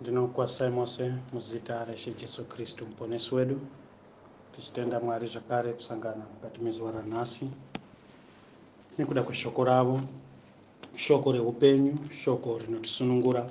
ndinokwasai mose muzita reshe jesu kristu muponesi wedu tichitenda mwari zvakare kusangana mukati mezuva ranhasi nekuda kweshoko ravo shoko reupenyu shoko rinotisunungura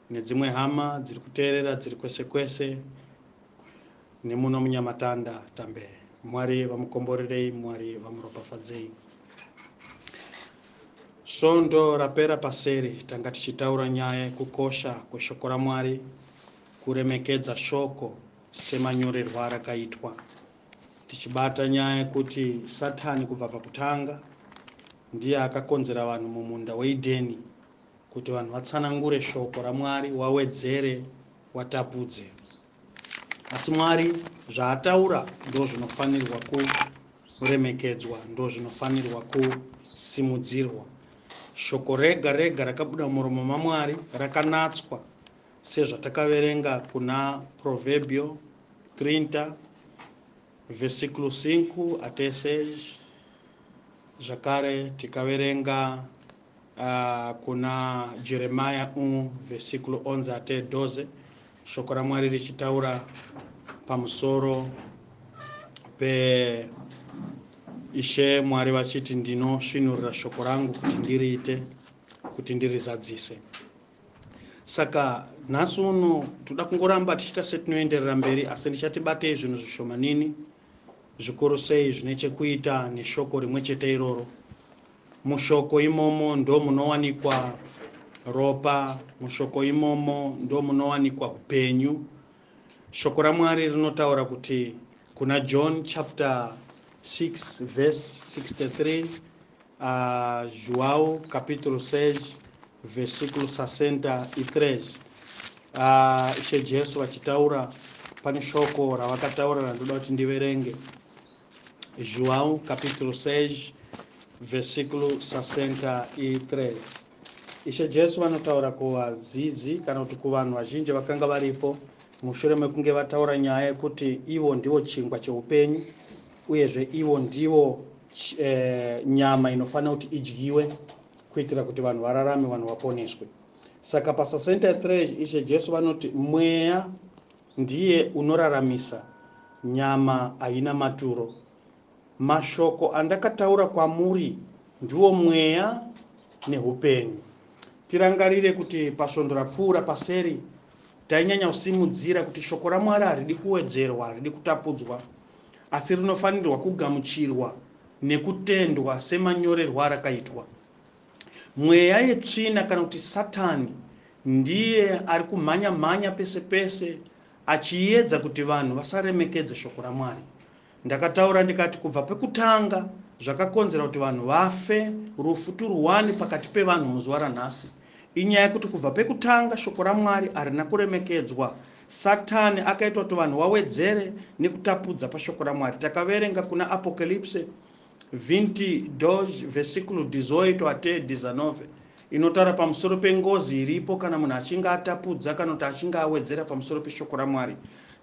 Nedzimwe hama dziri kuteerera dziri kwese kwese nemuno munyamatanda tambe mwari vamukomborerei mwari vamuropafadzei svondo rapera paseri tanga tichitaura nyaya yekukosha kweshoko ramwari kuremekedza shoko semanyorerwa rakaitwa tichibata nyaya yekuti satani kubva pakutanga ndiye akakonzera vanhu mumunda weidheni Kuti vanhu vatsanangure shoko raMwari wawedzere watapudze. Asi Mwari zvaataura ndozvinofanirwa kuremekedzwa ndozvinofanirwa kusimudzirwa. Shoko rega rega rakabuda muromo maMwari rakanatswa sezvatakaverenga kuna Proverbio 30 vesiklo 5 atesej zvakare tikaverenga Ah, kuna Jeremiah 1 vhesikulo 11 ate 12 shoko raMwari richitaura pamusoro peIshe Mwari vachiti, Ndinosvinurira shoko rangu kuti ndiriite, kuti ndirizadzise. Saka nhasi uno toda kungoramba tichiita setinoenderera mberi, asi ndichatibatei zvinhu zvishomanini zvikuru sei zvine chekuita neshoko rimwe chete iroro. Mushoko imomo ndomunowanikwa ropa, mushoko imomo ndomunowanikwa upenyu. Shoko raMwari rinotaura kuti kuna John chapter 6 verse 63 uh, João capítulo 6 versículo 63 uh, Ishe Jesu vachitaura pane shoko ravakataura randoda kuti ndiverenge João capítulo 6 versículo 63 Ishe Jesu vanotaura kuvadzidzi kana kuti kuvanhu vazhinji vakanga varipo mushure mekunge vataura nyaya yekuti ivo ndivo chingwa cheupenyu uyezve ivo ndivo eh, nyama inofanira kuti idyiwe kuitira kuti vanhu vararame vanhu vaponeswe saka pa 63 ishe jesu vanoti mweya Ndiye unoraramisa, nyama haina maturo. Mashoko andakataura kwamuri ndiwo mweya nehupenyu. Tirangarire kuti pasvondo rapfuura paseri tainyanya kusimudzira kuti shoko raMwari haridi kuwedzerwa, haridi kutapudzwa, asi rinofanirwa kugamuchirwa nekutendwa semanyorerwo arakaitwa. Mweya yetsvina kana kuti Satani ndiye ari kumhanya mhanya pese pese achiedza kuti vanhu vasaremekedze shoko raMwari. Ndakataura ndikati kubva pekutanga zvakakonzera kuti vanhu vafe rufu turuwani pakati pevanhu muzuva ranhasi inyaya yekuti kubva pekutanga shoko raMwari harina kuremekedzwa. Satani akaita kuti vanhu wawedzere nekutapudza pashoko raMwari. Takaverenga kuna Apocalypse 22 versículo 18 até 19, inotaura pamusoro pengozi iripo kana munhu achinge atapudza kana kuti achinge awedzera pamusoro peShoko raMwari.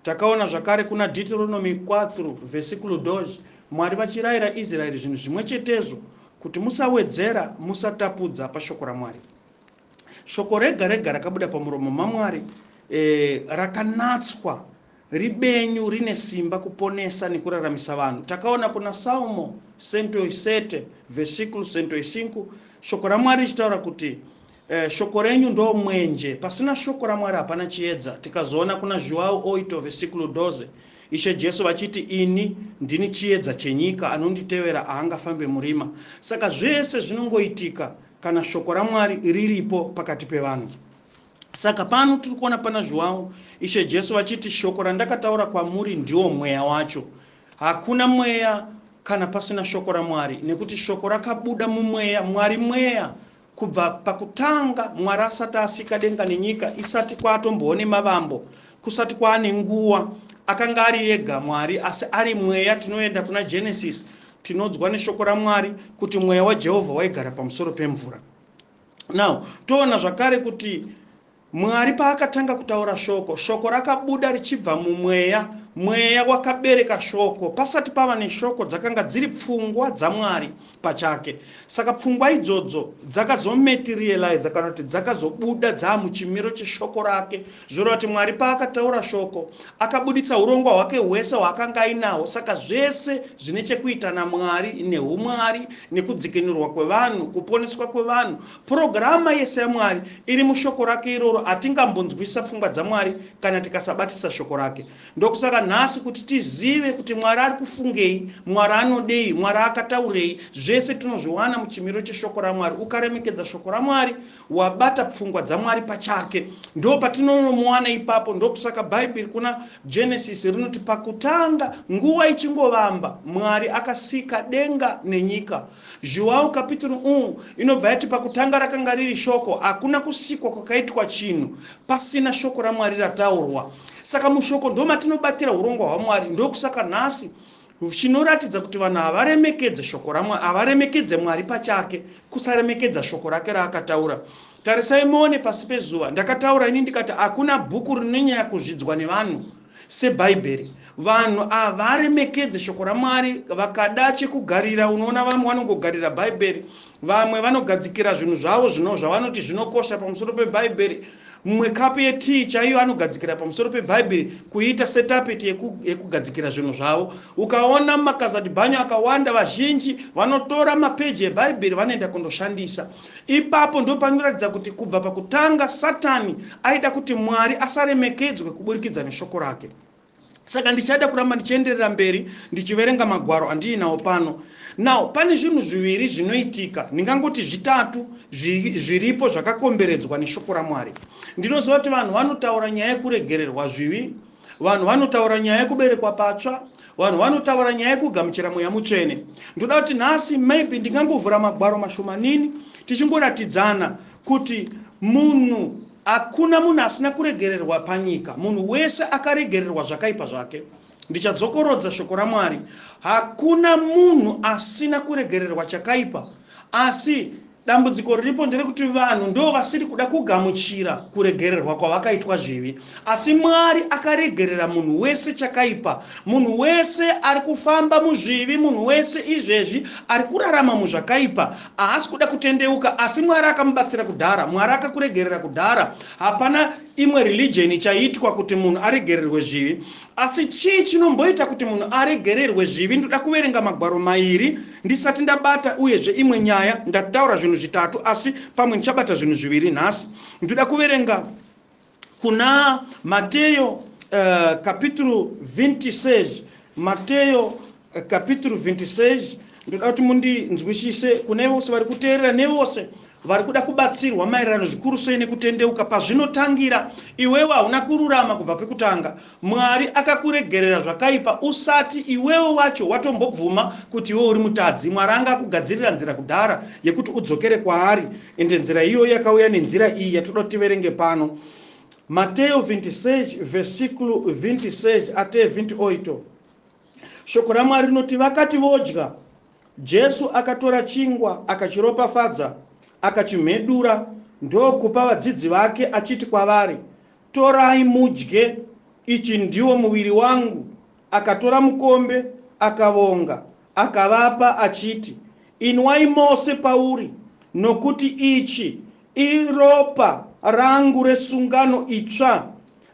Takaona zvakare kuna Deuteronomy 4 versículo 2 Mwari vachirayira Israeri zvinhu zvimwe chetezvo, kuti, Musawedzera, musatapudza paShoko raMwari. Shoko rega rega rakabuda pamuromo maMwari e, rakanatswa ribenyu rine simba kuponesa nekuraramisa vanhu. Takaona kuna Salmo 107 vesiklo 105 shoko raMwari richitaura kuti e, shoko renyu ndo mwenje, pasina shoko raMwari hapana chiedza. Tikazoona kuna Joao 8 vesiklo 12 Ishe Jesu vachiti ini ndini chiedza chenyika, anonditevera ahangafambe murima. Saka zvese zvinongoitika kana shoko raMwari riripo pakati pevanhu. Saka pano tiri kuona pana Zhuwawu Ishe Jesu vachiti, shoko randakataura kwamuri ndiwo mweya wacho. Hakuna mweya kana pasina shoko raMwari, nekuti shoko rakabuda mumweya. Mwari mweya. Kubva pakutanga Mwari asati asika denga nenyika, isati kwaatombowo nemavambo, kusati kwaane nguwa, akanga ari ega Mwari, asi ari mweya. Tinoenda kuna Genesis Tinonzwa neshoko raMwari kuti mweya waJehovha waigara pamusoro pemvura. Now, toona zvakare kuti Mwari paakatanga kutaura shoko, shoko rakabuda richibva mumweya, mweya wakabereka shoko. Pasati pava neshoko dzakanga dziri pfungwa dzaMwari pachake. Saka pfungwa idzodzo dzakazomaterializa kana kuti dzakazobuda dzaamuchimiro cheshoko rake Zvinoreva kuti Mwari paakataura shoko, akabuditsa hurongwa hwake hwese hwaakanga ainahwo. Saka zvese zvine chekuita naMwari, nehuMwari, nekudzikinurwa kwevanhu, kuponeswa kwevanhu. Purogirama yese yaMwari iri mushoko rake iroro. Hatingambonzwisisa pfungwa dzaMwari kana tikasabatisisa shoko rake. Ndokusaka nhasi kuti tizive kuti Mwari ari kufungei, Mwari anodei, Mwari akataurei, zvese tinozviwana muchimiro cheshoko raMwari. Ukaremekedza shoko raMwari, wabata pfungwa dzaMwari pachake. Ndo patinonomuwana ipapo. Ndokusaka Bhaibheri kuna Genesis rinoti pakutanga, nguva ichingovamba, Mwari akasika denga nenyika. Zhuwau kapituru u inobva yati pakutanga rakanga riri shoko. Hakuna kusikwa kwakaitwa chinhu pasina shoko raMwari rataurwa. Saka mushoko ndomatinobatira hurongwa hwaMwari. Ndokusaka nhasi Chinoratidza kuti vanhu havaremekedze shoko raMwari, havaremekedze Mwari pachake, kusaremekedza shoko rake raakataura. Tarisai muone pasi pezuva. Ndakataura ini ndikati hakuna bhuku rinonyanya kuzvidzwa nevanhu seBhaibheri. Vanhu havaremekedze shoko raMwari, vakada chekugarira. Unoona vamwe vanongogarira Bhaibheri, Vamwe vanogadzikira zvinhu zvavo zvino zvavanoti zvinokosha pamusoro peBhaibheri. Mumwe kapu yetii chaiyo anogadzikira pamusoro peBhaibheri kuiita setapeti yeku, yekugadzikira zvinhu zvavo. Ukaona makazadhibhanyo akawanda, vazhinji vanotora mapeji eBhaibheri vanoenda kundoshandisa. Ipapo ndipo panoratidza kuti kubva pakutanga Satani aida kuti Mwari asaremekedzwe kuburikidza neshoko rake. saka ndichada kuramba ndichienderera mberi ndichiverenga magwaro andiinawo pano now pane zvinhu zviviri zvinoitika ndingangoti zvitatu zviripo zvakakomberedzwa neshoko ramwari ndinoziva kuti vanhu vanotaura nyaya yekuregererwa zvivi vanhu vanotaura nyaya yekuberekwa patsva vanhu vanotaura nyaya yekugamuchira mweya mutsvene ndoda kuti nhasi maybe ndingangovhura magwaro mashomanini tichingoratidzana kuti munhu Hakuna munhu asina kuregererwa panyika. Munhu wese akaregererwa zvakaipa zvake. Ndichadzokorodza shoko raMwari. Hakuna munhu asina kuregererwa chakaipa. Asi dambudziko riripo nderekuti vanhu ndo vasiri kuda kugamuchira kuregererwa kwavakaitwa zvivi. Asi Mwari akaregerera munhu wese chakaipa. Munhu wese ari kufamba muzvivi, munhu wese izvezvi ari kurarama muzvakaipa. Haasi kuda kutendeuka asi Mwari akamubatsira kudhara. Mwari akakuregerera kudhara. Hapana imwe religion ichaitwa kuti munhu aregererwe zvivi. Asi chii chinomboita kuti munhu aregererwe zvivi? Ndoda kuverenga magwaro mairi ndisati ndabata uyezve imwe nyaya. Ndataura zvinhu zvitatu asi pamwe ndichabata zvinhu zviviri nhasi. Ndoda kuverenga kuna Mateyo uh, eh, capítulo 26 Mateyo eh, capítulo 26 ndoda kuti mundinzwisise kune vose vari kuteerera nevose vari kuda kubatsirwa maererano zvikuru sei nekutendeuka pazvinotangira iwewe hauna kururama kubva pekutanga Mwari akakuregerera zvakaipa usati iwewe wacho watombobvuma kuti iwe uri mutadzi. Mwari anga akugadzirira nzira kudhara yekuti udzokere kwaari ende nzira iyoyo yakauya nenzira iyi yatoda kuti tiverenge pano. Mateyo 26 vesiklu 26 ate 28. Shoko raMwari rinoti vakati vodya, Jesu akatora chingwa akachiropafadza, akachimhedura ndokupa vadzidzi vake achiti kwavari, Torai mudye, ichi ndiwo muviri wangu. Akatora mukombe, akavonga, akavapa, achiti, Inwai mose pauri, nokuti ichi iropa rangu resungano itsva,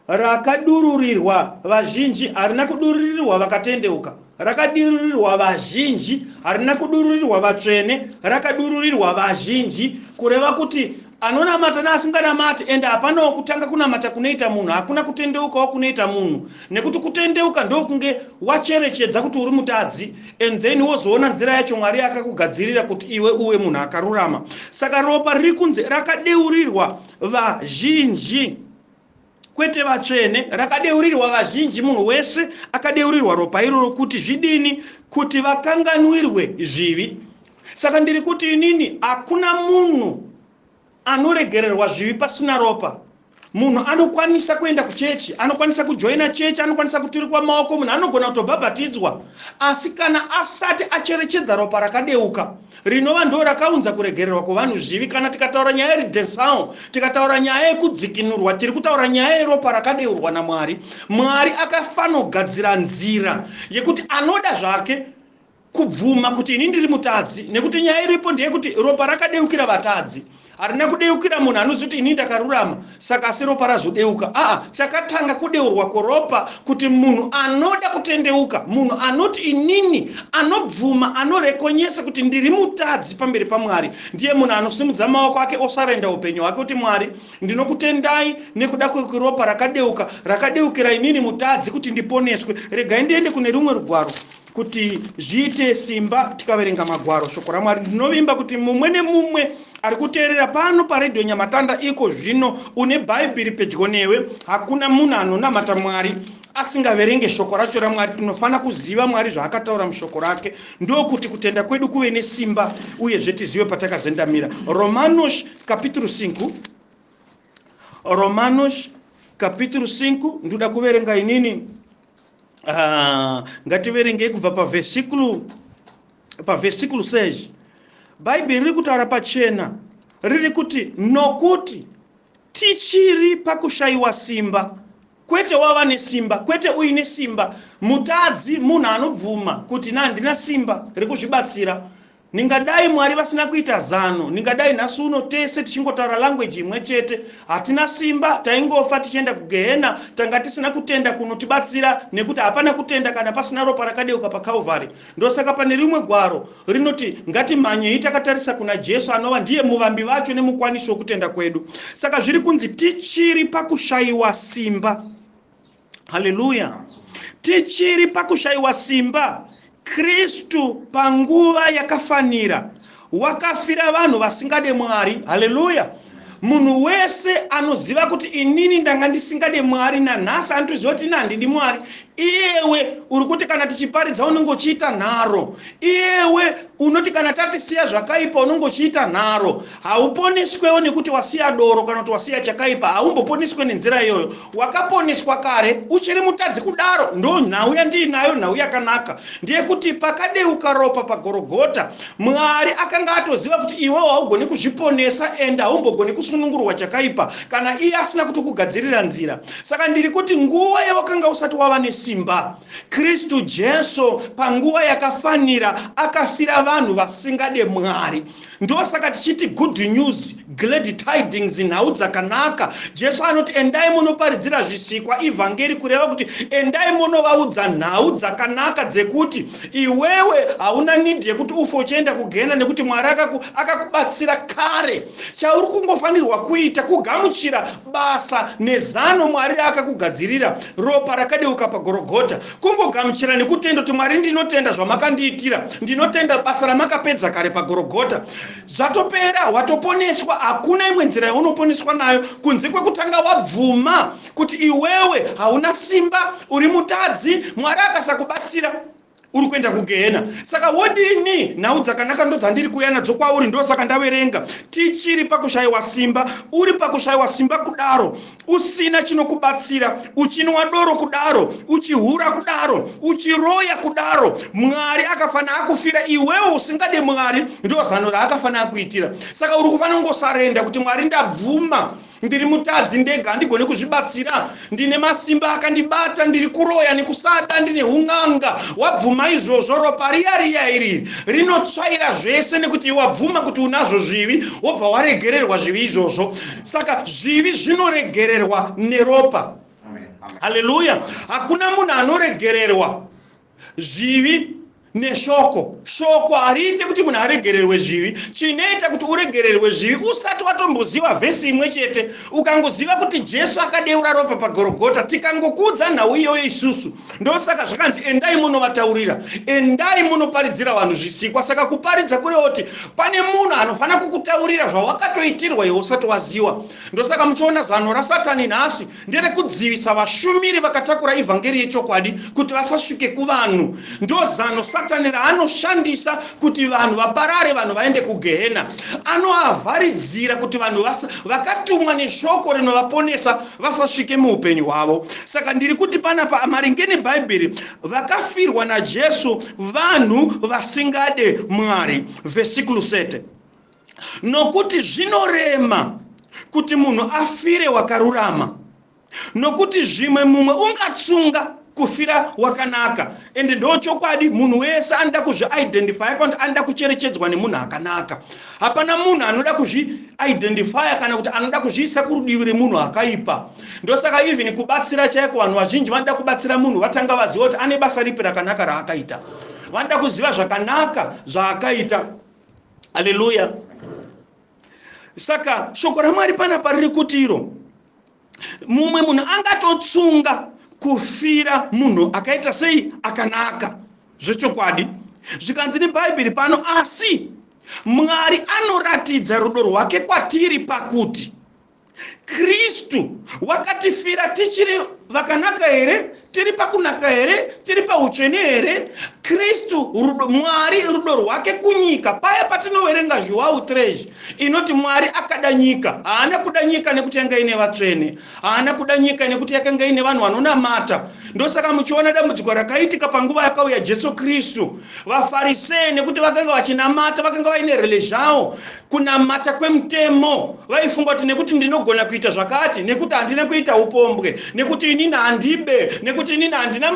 rakadururirwa vazhinji, harina kudururirwa vakatendeuka, rakadururirwa vazhinji, harina kudururirwa vatsvene, rakadururirwa vazhinji, kureva kuti Anonamata neasinganamati ende hapanawo kutanga kunamata kunoita munhu hakuna kutendeukawo kunoita munhu nekuti kutendeuka ndokunge wacherechedza kuti uri mutadzi and then wozoona nzira yacho Mwari yakakugadzirira kuti iwe uwe munhu akarurama saka ropa riri kunze rakadeurirwa vazhinji kwete vatsvene, rakadeurirwa vazhinji, munhu wese akadeurirwa ropa iroro kuti zvidini? Kuti vakanganwirwe zvivi. Saka ndiri kuti inini, hakuna munhu anoregererwa zvivi pasina ropa. Munhu anokwanisa kuenda kuchechi, anokwanisa kujoina chechi, anokwanisa kuturikwa maoko, munhu anogona kutobhabhatidzwa, asi kana asati acherechedza ropa rakadeuka, rinova ndoo rakaunza kuregererwa kwevanhu zvivi. Kana tikataura nyaya yeredensao, tikataura nyaya yekudzikinurwa, tiri kutaura nyaya yeropa rakadeurwa naMwari. Mwari akafanogadzira nzira yekuti anoda zvake kubvuma kuti ini ndiri mutadzi nekuti nyaya iripo ndeyekuti ropa rakadeukira vatadzi. Harina kudeukira munhu anoziva kuti ini ndakarurama saka asi ropa razodeuka. Aa, chakatanga kudeurwa koropa kuti munhu anoda kutendeuka, munhu anoti inini, anobvuma, anorekonyesa kuti ndiri mutadzi pamberi paMwari, ndiye munhu anosimudza maoko ake osarenda upenyu hwake kuti Mwari, ndinokutendai nekuda kweropa rakadeuka, rakadeukira inini mutadzi kuti ndiponeswe. Regai ndiende kune rumwe rugwaro kuti zviite simba tikaverenga magwaro shoko ramwari ndinovimba kuti mumwe nemumwe ari kuteerera pano paredhiyo nyamatanda iko zvino une bhaibheri pedyo newe hakuna munhu anonamata mwari asingaverenge shoko racho ramwari tinofanira kuziva mwari zvaakataura mushoko rake ndokuti kutenda kwedu kuve nesimba uyezve tizive patakazendamira romanos kapituru 5 romanos kapituru 5 ndoda kuverenga inini Ah, ngativerengei kubva pavhesikulu pavhesikulu seizvi bhaibheri riri kutaura pachena riri kuti nokuti tichiri pakushayiwa simba kwete wava nesimba kwete uine simba mutadzi munhu anobvuma kuti na handina simba rekuzvibatsira Ndingadai Mwari vasina kuita zano, ndingadai nhasi uno tese tichingotaura language imwe chete. Hatina simba, taingofa tichienda kugehena, tanga tisina kutenda kunotibatsira nekuti hapana kutenda kana pasina ropa rakadeuka paCalvary. Ndosaka pane rimwe gwaro rinoti, ngatimhanyei takatarisa kuna Jesu anova ndiye muvambi vacho nemukwanisi wekutenda kwedu. Saka zviri kunzi tichiri pakushaiwa simba. haleluya tichiri pakushayiwa simba kristu panguva yakafanira wakafira vanhu vasingade mwari haleluya munhu wese anoziva kuti inini ndanga ndisingade mwari nanhasi anotizva kuti ini handidi mwari iyewe uri kuti kana tichiparidza unenge uchiita nharo iyewe unoti kana tatisiya zvakaipa unenge uchiita nharo hauponeswewo nekuti wasiya doro kana kuti wasiya chakaipa haumboponeswe nenzira iyoyo Wakaponeswa kare uchiri mutadzi kudaro ndo nhau yandiinayo nhau yakanaka ndeyekuti pakadeuka ropa pagorogota mwari akanga atoziva kuti iwewo haugoni kuzviponesa and haumbogoni kusunungurwa chakaipa kana iye asina kuti kugadzirira nzira saka ndiri kuti nguva yewakanga usati wava nesimba kristu jesu panguva yakafanira akafira vanhu vasingade mwari Ndosaka tichiti good news, glad tidings, nhau dzakanaka. Jesu anoti endai monoparidzira zvisikwa, ivhangeri, kureva kuti endai monovaudza nhau dzakanaka dzekuti iwewe hauna need yekuti ufe uchienda kugehena nekuti Mwari akakubatsira kare. Chauri kungofanirwa kuita kugamuchira basa nezano Mwari raakakugadzirira, ropa rakadeuka paGorogota. Kungogamuchira nekutenda kuti Mwari ndinotenda zvamakandiitira, ndinotenda basa ramakapedza kare paGorogota. Zvatopera, watoponeswa, hakuna imwe nzira yaunoponeswa nayo kunze kwekutanga wabvuma kuti iwewe hauna simba, uri mutadzi, Mwari akasakubatsira. uri kuenda kugehena saka wodini nhau dzakanaka ndodzandiri kuuya nadzo kwauri ndosaka ndaverenga tichiri pakushayiwa simba uri pakushayiwa simba kudaro usina chinokubatsira uchinwa doro kudaro uchihura kudaro uchiroya kudaro mwari akafanira akufira iwewo usingade mwari ndozano raakafanira akuitira saka uri kufanira kungosarenda kuti mwari ndabvuma Ndiri mutadzi ndega, handigone kuzvibatsira. Ndine masimba akandibata, ndiri kuroya nekusada, ndine hun'anga. Wabvuma izvozvo, ropa riya riya iri rinotsvaira zvese nekuti wabvuma kuti unazvo zvivi, wobva waregererwa zvivi izvozvo. Saka zvivi zvinoregererwa neropa. Haleluya! Hakuna munhu anoregererwa zvivi neshoko shoko hariite kuti munhu aregererwe zvivi chinoita kuti uregererwe zvivi usati watomboziva vhesi imwe chete ukangoziva kuti jesu akadeura ropa pagorogota tikangokuudza nhau iyoyo isusu ndosaka zvakanzi endai munovataurira endai munoparidzira vanhu zvisikwa saka kuparidza kurevo kuti pane munhu anofanira kukutaurira zvawakatoitirwa iwe usati waziva ndosaka muchiona zano rasatani nhasi Nderekudzivisa vashumiri vakatakura evhangeri yechokwadi kuti vasasvike kuvanhu. Ndozano Satani raanoshandisa kuti vanhu vaparare, vanhu vaende kugehena. Anoavharidzira kuti vanhu vasa, vakatumwa neshoko rinovaponesa vasasvike muupenyu hwavo. Saka ndiri kuti panapa maringe neBhaibheri, vakafirwa naJesu vanhu vasingade Mwari. Vhesikulu 30. Nokuti zvinorema kuti munhu afire wakarurama, nokuti zvimwe mumwe ungatsunga kufira wakanaka. Ende ndochokwadi, munhu wese anoda kuzviidentifya kana kuti anoda kucherechedzwa nemunhu akanaka. Hapana munhu anoda kuzviidentifya kana kuti anoda kuzviisa kurudivi remunhu akaipa. Ndosaka even kubatsira chaiko, vanhu vazhinji vanoda kubatsira munhu vatanga vaziva kuti ane basa ripi rakanaka raakaita. Vanoda kuziva zvakanaka zvaakaita. haleluya saka shoko ramwari pana pariri kuti iro mumwe munhu angatotsunga kufira munhu akaita sei akanaka zvechokwadi zvikanzi nebhaibheri pano asi mwari anoratidza rudo rwake kwatiri pakuti kristu wakatifira tichiri vakanaka here tiri pakunaka here tiri pautsvene here kristu rudo mwari rudo rwake kunyika paya patinoverenga zhuwau trezhi inoti mwari akada nyika haana kuda nyika nekuti yanga ine vatsvene haana kuda nyika nekuti yakanga ine vanhu vanonamata ndosaka muchiona dambudziko rakaitika panguva yakauya jesu kristu vafarisee nekuti vakanga vachinamata vakanga vaine rele zvavo kunamata kwemutemo vaifunga kuti nekuti ndinogona kuita zvakati nekuti handina kuita upombwe nekuti inini handibe nekuti inini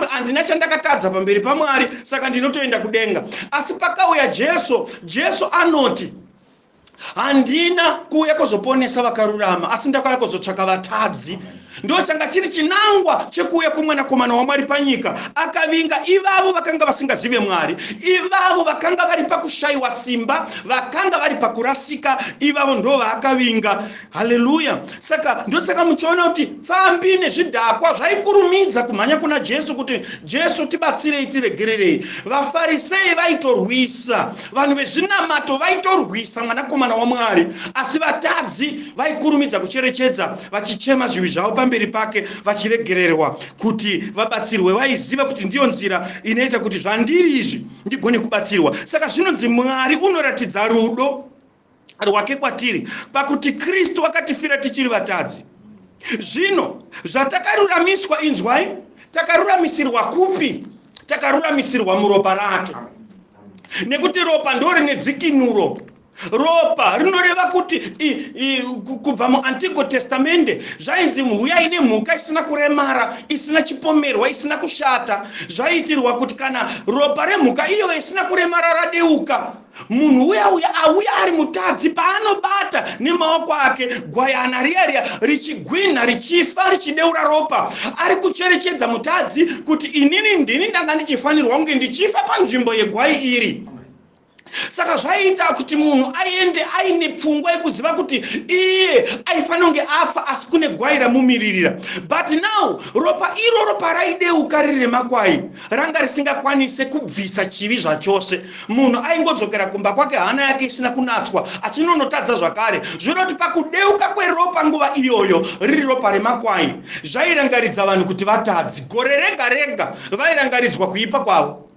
handina chandakatadza pamberi pamwari saka ndinotoenda kudenga asi pakauya jesu jesu anoti handina kuuya kuzoponesa vakarurama asi ndakauya kuzotsvaka vatadzi Ndochanga chiri chinangwa chekuuya kweMwanakomana waMwari panyika. Akavinga ivavo vakanga vasingazive Mwari, ivavo vakanga vari pakushaiwa simba, vakanga vari pakurasika, ivavo ndo vaakavinga. Haleluya! Saka ndosaka muchiona kuti pfambi nezvidhakwa zvaikurumidza kumhanya kuna Jesu kuti, Jesu, tibatsirei, tiregererei. VaFarisei vaitorwisa, vanhu vezvinamato vaitorwisa Mwanakomana waMwari, asi vatadzi vaikurumidza kucherechedza vachichema zvivi zvavo pamberi pake vachiregererwa kuti vabatsirwe vaiziva kuti ndiyo nzira inoita kuti zvandiri izvi ndigone kubatsirwa saka zvinonzi mwari unoratidza rudo rwake kwatiri pakuti kristu akatifira tichiri vatadzi zvino zvatakaruramiswa inzwai takaruramisirwa kupi takaruramisirwa muropa rake nekuti ropa ndo rine dzikinuro ropa rinoreva kuti kubva muantigo testamende zvainzi mhuya ine mhuka isina kuremara isina chipomerwa isina kushata zvaiitirwa kuti kana ropa remhuka iyo isina kuremara radeuka munhu uya uya auya ari mutadzi paanobata nemaoko ake gwayana riya riya richigwinha richifa richideura ropa ari kucherechedza mutadzi kuti inini ndini ndanga ndichifanirwa kunge ndichifa panzvimbo yegwai iri saka zvaiita kuti munhu aende aine pfungwa yekuziva kuti iye aifanira kunge afa asi kune gwai ramumiririra but now ropa iroro paraideuka riri remakwai ranga risingakwanise kubvisa chivi zvachose munhu aingodzokera kumba kwake hana yake isina kunatswa achinonotadza zvakare zvinoda kuti pakudeuka kweropa nguva iyoyo riri ropa remakwai zvairangaridza vanhu kuti vatadzi gore rega rega vairangaridzwa kuipa kwavo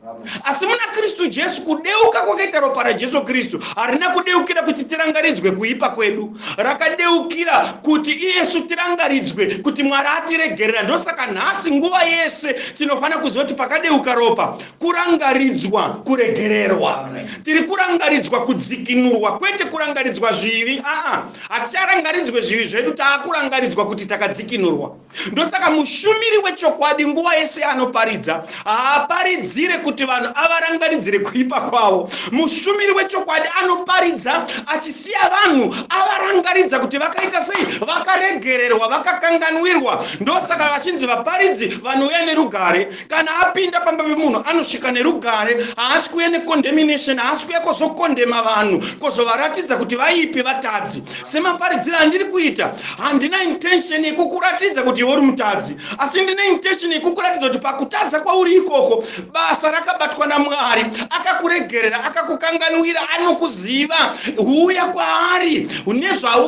Asi muna Kristu Jesu, kudeuka kwakaita ropa raJesu Kristu harina kudeukira kuti tirangaridzwe kuipa kwedu. Rakadeukira kuti isu tirangaridzwe kuti Mwari atiregerera. Ndosaka nhasi nguva yese tinofanira kuziva kuti pakadeuka ropa, kurangaridzwa kuregererwa. Tiri kurangaridzwa kudzikinurwa, kwete kurangaridzwa zvivi. Aa, haticharangaridzwe zvivi zvedu, taakurangaridzwa kuti takadzikinurwa. ndosaka mushumiri wechokwadi nguva yese anoparidza haaparidzire kuti vanhu avarangaridzire kuipa kwavo mushumiri wechokwadi anoparidza achisiya vanhu avarangaridza kuti vakaita sei vakaregererwa vakakanganwirwa ndosaka vachinzi vaparidzi vanouya nerugare kana apinda pamba pemunhu anosvika nerugare haasi kuuya necondemnation haasi kuuya kozokondema vanhu kozovaratidza kuti vaipi vatadzi semaparidziro andiri kuita handina intention yekukuratidza kuti iwe uri mutadzi asi ndine intention yekukuratidza kuti pakutadza kwauri ikoko basa rakabatwa namwari akakuregerera akakukanganwira anokuziva huuya kwaari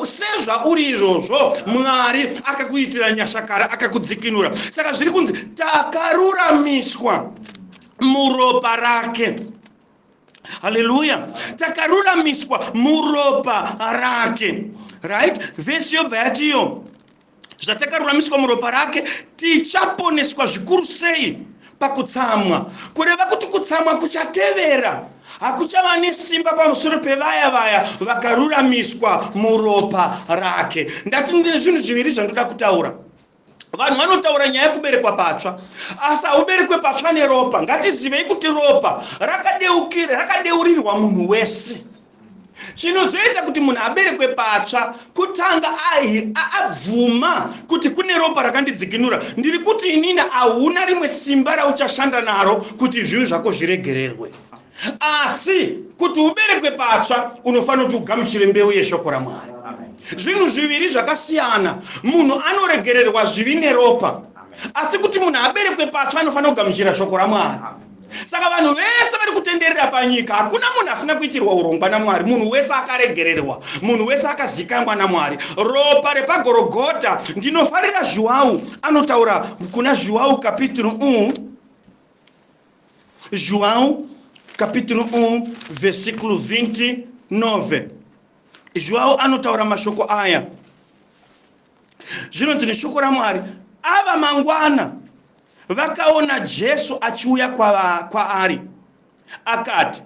sezvauri izvozvo mwari akakuitira nyashakara akakudzikinura saka zviri kunzi takaruramiswa muropa rake haleluya takaruramiswa muropa rake right vhesi yobva yatiyo zvatakaruramiswa muropa rake tichaponeswa zvikuru sei pakutsamwa kureva kuti kutsamwa kuchatevera hakuchava nesimba pamusoro pevaya vaya vakaruramiswa muropa rake ndati ndine zvinhu zviviri zvandoda kutaura vanhu vanotaura nyaya yekuberekwa patsva asi hauberekwe patsva neropa ngatizivei kuti ropa rakadeukira rakadeurirwa munhu wese chinozoita kuti munhu aberekwe patsva kutanga abvuma kuti kune ropa rakandidzikinura ndiri kuti inini hauna rimwe simba rauchashanda naro kuti zvivi zvako zviregererwe asi kuti uberekwe patsva unofanira kuti ugamuchire mbeu yeshoko ramwari zvinhu zviviri zvakasiyana munhu anoregererwa zvivi neropa asi kuti munhu aberekwe patsva anofanira kugamuchira shoko ramwari saka vanhu vese vari kutenderera panyika hakuna munhu asina kuitirwa urongwa namwari munhu wese akaregererwa munhu wese akazikanwa namwari ropa repagorogota ndinofarira zhuwau anotaura kuna zhuwau kapituru u mm. João capítulo 1 versículo 29 João anotaura mashoko aya zvinonzi neshoko ramwari ava mangwana vakaona jesu achiuya kwaari akati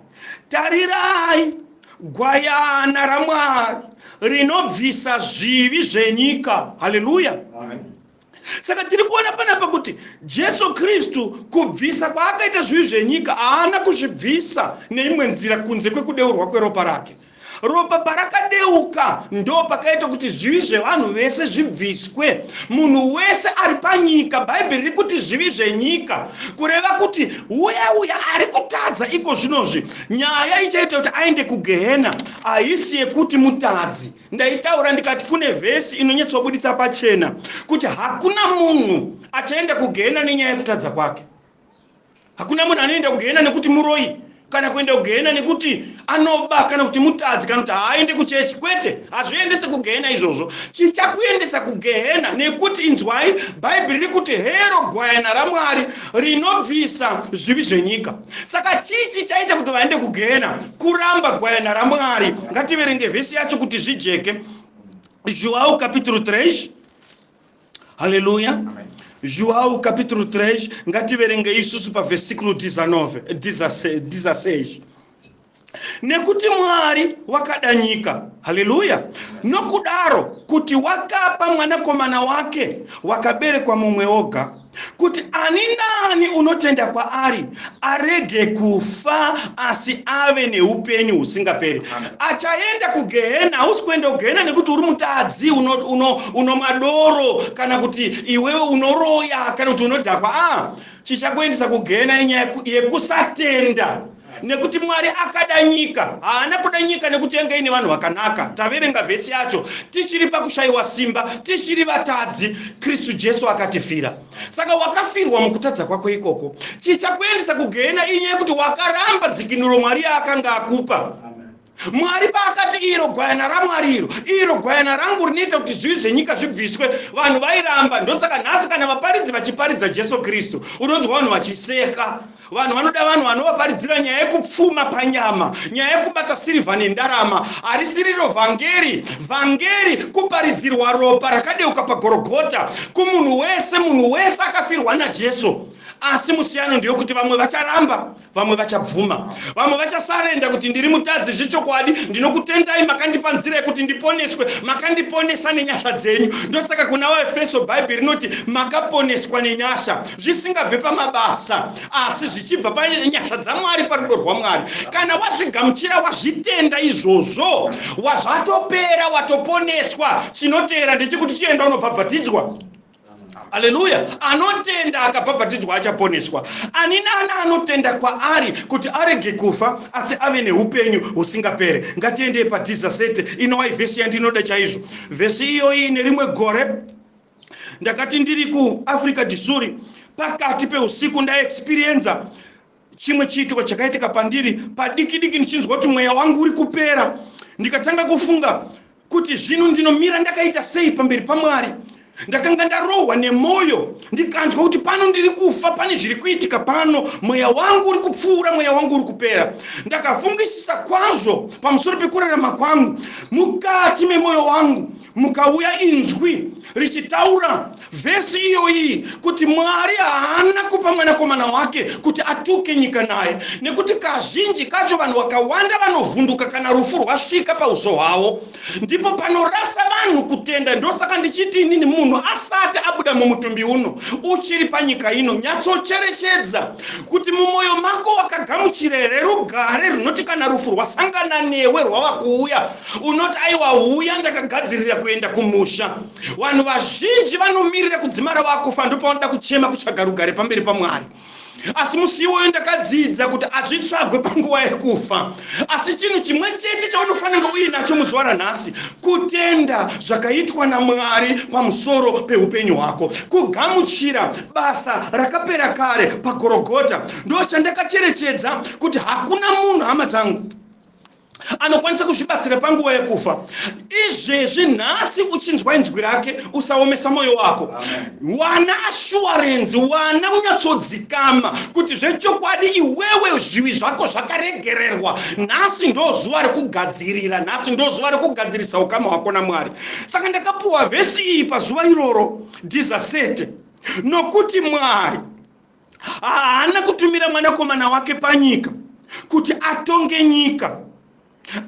tarirai gwayana ramwari rinobvisa zvivi zvenyika haleluya saka tiri kuona panapa kuti jesu kristu kubvisa kwaakaita zvivi zvenyika haana kuzvibvisa neimwe nzira kunze kwekudeurwa kweropa rake ropa parakadeuka ndo pakaita kuti zvivi zvevanhu vese zvibviswe munhu wese ari panyika bhaibheri rikuti zvivi zvenyika kureva kuti uya uya ari kutadza iko zvinozvi nyaya ichaita kuti aende kugehena haisi yekuti mutadzi Ndaitaura ndikati kune vhesi inonyatsobuditsa pachena kuti hakuna munhu achaenda kugehena nenyaya yekutadza kwake. Hakuna munhu anoenda kugehena nekuti muroi kana kuenda kugehena nekuti anoba kana kuti mutadzi kana kuti haaende kuchechi kwete hazviendese kugehena izvozvo chichakuendesa kugehena nekuti inzwai bhaibheri riri kuti hero gwayana ramwari rinobvisa zvivi zvenyika saka chii chii chaita kuti vaende kugehena kuramba gwayana ramwari ngativerenge vhesi yacho kuti zvijeke joao capitulo 3 haleluya joao capitulo 3 ngativerenge isusu pavhesiklo 19 16 nekuti mwari wakada nyika haleluya nokudaro kuti wakapa mwanakomana wake wakaberekwa mumwe oga kuti ani nani unotenda kwaari arege kufa asi ave neupenyu husingaperi achaenda kugehena hausi kuenda kugehena nekuti uri mutadzi uno, uno, uno madoro kana kuti iwewe unoroya kana kuti unodhakwa a ah, chichakuendesa kugehena inyaya yekusatenda Nekuti Mwari akada nyika, haana kuda nyika nekuti yanga ine vanhu vakanaka. Taverenga vhesi yacho tichiri pakushaiwa simba, tichiri vatadzi, Kristu Jesu akatifira. Saka wakafirwa mukutadza kwako ikoko. Chichakuendesa kugehena inyaya yekuti wakaramba dzikinuro Mwari yaakanga akupa. mwari paakati iro gwayana ramwari iro iro gwayana rangu rinoita kuti zvivi zvenyika zvibviswe vanhu vairamba ndosaka nhasi kana vaparidzi vachiparidza jesu kristu unonzwa vanhu vachiseka vanhu vanoda vanhu vanovaparidzira nyaya yekupfuma panyama nyaya yekubata sirivha nendarama harisi riro vhangeri vhangeri kuparidzirwa ropa rakadeuka pagorogota kumunhu wese munhu wese akafirwa najesu asi musiyano ndeyokuti vamwe vacharamba vamwe vachabvuma vamwe vachasarenda kuti ndiri mutadzi zvechokwadi ndinokutendai makandipa nzira yekuti ndiponeswe makandiponesa nenyasha dzenyu ndosaka kuna vaefeso bhaibheri rinoti makaponeswa nenyasha zvisingabve pamabasa asi zvichibva panyasha dzamwari parudo rwamwari kana wazvigamuchira wazvitenda izvozvo wazvatopera watoponeswa chinoteera ndechekuti chienda unobhabhatidzwa haleluya anotenda akabhabhatidzwa achaponeswa ani nani anotenda kwaari kuti arege kufa asi ave neupenyu husingapere ngatiendei padhizasete inowai vhesi yandinoda chaizvo vhesi iyoyi nerimwe gore ndakati ndiri kuafrica disuri pakati peusiku ndaexperienza Chimwe chiitiko chakaitika pandiri padiki diki ndichinzwa kuti mweya wangu uri kupera ndikatanga kufunga kuti zvino ndinomira ndakaita sei pamberi paMwari. Ndakanga ndarohwa nemwoyo ndikanzwa kuti pano ndiri kufa, pane zviri kuitika pano, mweya wangu uri kupfuura, mweya wangu uri kupera. Ndakafungisisa kwazvo pamusoro pekurarama kwangu mukati memwoyo wangu. mukauya inzwi richitaura vhesi iyoyi kuti mwari haana kupa mwanakomana wake kuti atuke nyika naye nekuti kazhinji kacho vanhu vakawanda vanovhunduka kana rufu rwasvika pauso hwavo ndipo panorasa vanhu kutenda ndosaka ndichiti inini munhu asati abuda mumutumbi uno uchiri panyika ino nyatsocherechedza kuti mumwoyo mako wakagamuchira here rugare runoti kana rufu rwasangana newe rwava kuuya unoti aiwa huya ndakagadzirira kuenda kumusha vanhu vazhinji vanomirira kudzimara vakufa ndopavanoda kuchema kutsvaga rugare pamberi pamwari asi musi iwoyo ndakadzidza kuti hazvitsvagwe panguva yekufa asi chinhu chimwe chete chaunofanira uinacho muzuva ranhasi kutenda zvakaitwa namwari pamusoro peupenyu hwako kugamuchira basa rakapera kare pagorogota ndo chandakacherechedza kuti hakuna munhu hama dzangu anokwanisa kuzvibatsira panguva yekufa izvezvi nhasi uchinzwa inzwi rake usaomesa mwoyo wako wana ashuwarenzi wana unyatsodzikama kuti zvechokwadi iwewe zvivi zvako zvakaregererwa nhasi ndo zuva rekugadzirira nhasi ndo zuva rekugadzirisa ukama hwako namwari saka ndakapuwa vhesi iyi pazuva iroro dhizasete nokuti mwari haana kutumira mwanakomana wake panyika kuti atonge nyika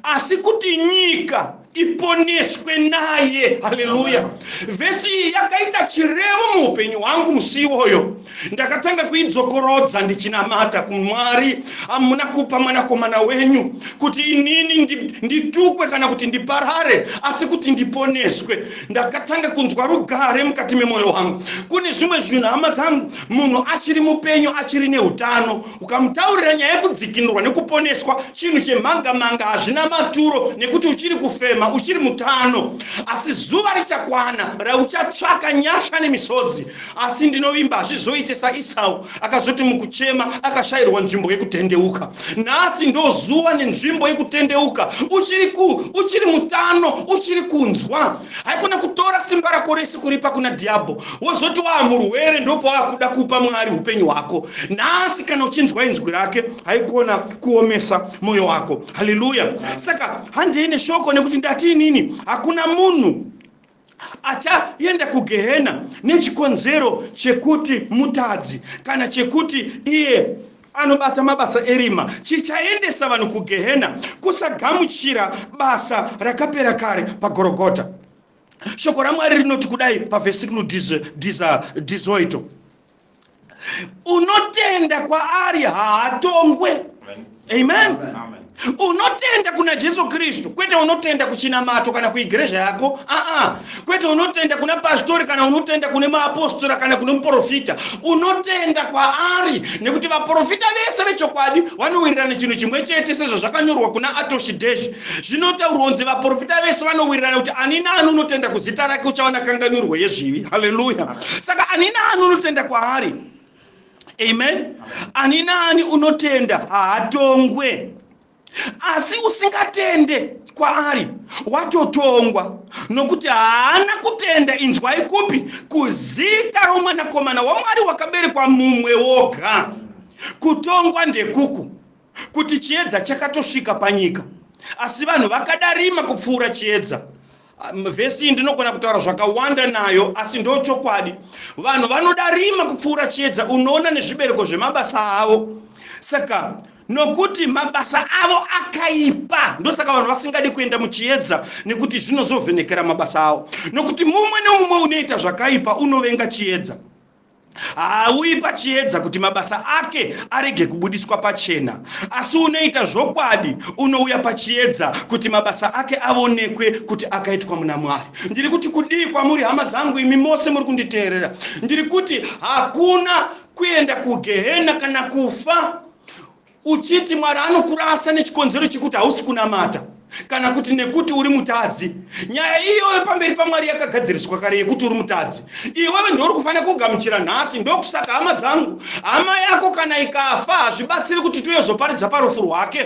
asi kuti nyika iponeswe naye haleluya vhesi iyi yakaita chirevo muupenyu hwangu musi iwoyo ndakatanga kuidzokorodza ndichinamata kumwari hamuna kupa mwanakomana wenyu kuti inini nditukwe kana kuti ndiparare asi kuti ndiponeswe ndakatanga kunzwa rugare mukati memwoyo wangu kune zvimwe zvinhu hama dzangu munhu achiri mupenyu achiri neutano ukamutaurira nyaya yekudzikinurwa nekuponeswa chinhu chemhanga manga hazvina maturo nekuti uchiri kufema uchiri mutano asi zuva richakwana rauchatsvaka nyasha nemisodzi asi ndinovimba hazvizoite saisau akazoti mukuchema akashayirwa nzvimbo yekutendeuka nhasi ndozuva nenzvimbo yekutendeuka uchiri ku uchiri mutano uchiri kunzwa haikona kutora simba rako rese kuripa kuna dhiabho wozoti waa murwere ndopawaakuda kupa mwari upenyu hwako nhasi kana uchinzwa inzwi rake haikona kuomesa mwoyo wako haleluya saka handei neshoko nekuti ndati inini hakuna munhu achaenda kugehena nechikonzero chekuti mutadzi kana chekuti iye anobata mabasa erima chichaendesa vanhu kugehena kusagamuchira basa rakapera kare pagorogota shoko ramwari rinoti kudai pavhesiku dizoito unotenda kwaari haatongwe amen, amen. unotenda kuna jesu kristu kwete unotenda kuchinamato kana kuigrezha yako aa kwete unotenda kuna pastori kana unotenda kune maapostora kana kune muprofita unotenda kwaari nekuti vaprofita vese vechokwadi vanowirirana chinhu chimwe chete sezvazvakanyorwa kuna atoshideshi zvinotaurwa kunzi vaprofita vese vanowirirana kuti ani naani unotenda kuzita rake uchaona kanganwirwo yezvivi haleluya saka ani naani unotenda kwaari amen ani naani unotenda haatongwe asi usingatende kwaari watotongwa nokuti haana kutenda inzwai kupi kuzita romwanakomana wamwari wakaberekwa mumwe woga kutongwa ndekuku kuti chiedza chakatosvika panyika asi vanhu vakada rima kupfuura chiedza vhesi iyi ndinogona kutaura zvakawanda nayo asi ndo chokwadi vanhu vanoda rima kupfuura chiedza unoona nezvibereko zvemabasa avo saka nokuti mabasa avo akaipa ndosaka vanhu vasingadi kuenda muchiedza nekuti zvinozovhenekera mabasa avo nokuti mumwe nemumwe unoita zvakaipa unovenga chiedza Haauyi pachiedza kuti mabasa ake arege kubudiswa pachena, asi unoita zvokwadi unouya pachiedza kuti mabasa ake avonekwe kuti akaitwa muna Mwari. Ndiri kuti kudii kwamuri, hama dzangu, imi mose muri kunditeerera? Ndiri kuti hakuna kuenda kugehena kana kufa uchiti mwari anokurasa nechikonzero chekuti hausi kunamata kana kuti nekuti uri mutadzi nyaya iyoyo pamberi pamwari yakagadziriswa kare yekuti uri mutadzi iwewe ndouri kufanira kugamuchira nhasi ndokusaka hama dzangu hama yako kana ikafa hazvibatsiri kuti toyozoparidza parufu rwake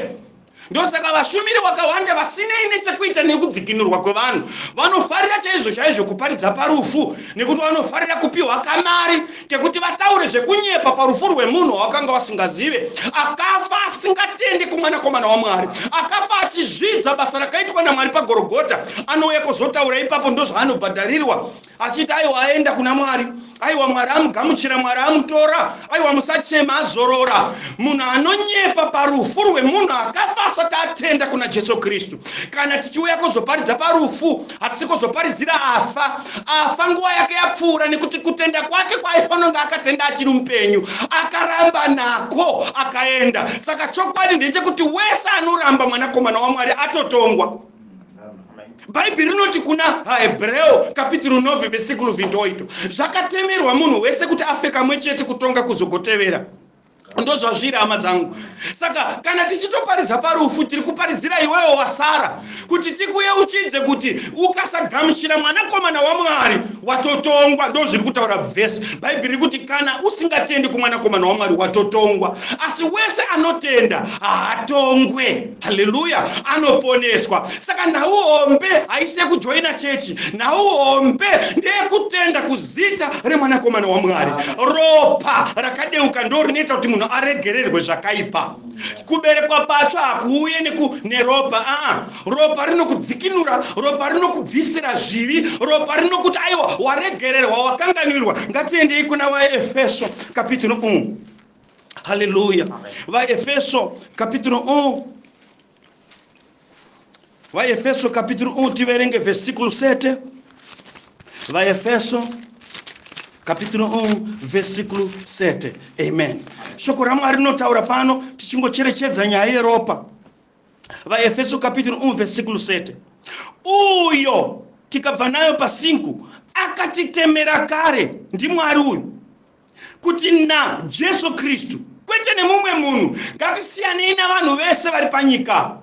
ndosaka vashumiri vakawanda vasinei nechekuita nekudzikinurwa kwevanhu vanofarira chaizvo chaizvo kuparidza parufu nekuti vanofarira kupiwa kamari kekuti vataure zvekunyepa parufu rwemunhu wawakanga wasingazive akafa asingatendi kumwanakomana wamwari akafa achizvidza basa rakaitwa namwari pagorogota anouya kuzotaura ipapo ndozvaanobhadharirwa achiti aiwa aenda kuna mwari aiwa mwari amugamuchira mwari amutora aiwa musachema azorora munhu anonyepa parufu rwemunhu akafa asati atenda kuna jesu kristu kana tichiuya kuzoparidza parufu hatisi kuzoparidzira afa afa nguva yake yapfuura nekuti kutenda kwake kwaifanonge akatenda achiri mupenyu akaramba nako akaenda saka chokwadi ndechekuti wese anoramba mwanakomana wamwari atotongwa bhaibheri rinoti kuna hahebreo kapitiro 9 vesikulu 28 zvakatemerwa munhu wese kuti afe kamwe chete kutonga kuzogotevera ndozvazviri hama dzangu saka kana tichitoparidza parufu tiri kuparidzira iwewo wasara kuti tikuyeuchidze kuti ukasagamuchira mwanakomana wamwari watotongwa ndo zviri kutaura vhesi bhaibheri riri kuti kana usingatendi kumwanakomana wamwari watotongwa asi wese anotenda haatongwe haleluya anoponeswa saka nhau hombe haisi yekujoina chechi nhau hombe ndeyekutenda kuzita remwanakomana wamwari ropa rakadeuka ndo rinoita kuti munhu aregererwe zvakaipa kuberekwa patsva hakuuye neropa aa ropa rinokudzikinura ropa rinokubvisira zvivi ropa rinokuti aiwa waregererwa wakanganwirwa ngatiendei kuna vaefeso kapitiro umu mm. haleluya vaefeso kapituro 1 vaefeso kapituro 1 tiverenge vesikuru sete vaefeso kapituro 1 vesikuru sete amen shoko ramwari rinotaura pano tichingocherechedza nyaya yeropa vaefeso kapituro 1 vesikuru 7 uyo tikabva nayo pasinku akatitemera kare ndimwari uyu kuti na Jesu Kristu kwete nemumwe munhu. Ngatisiyanei navanhu vese vari panyika.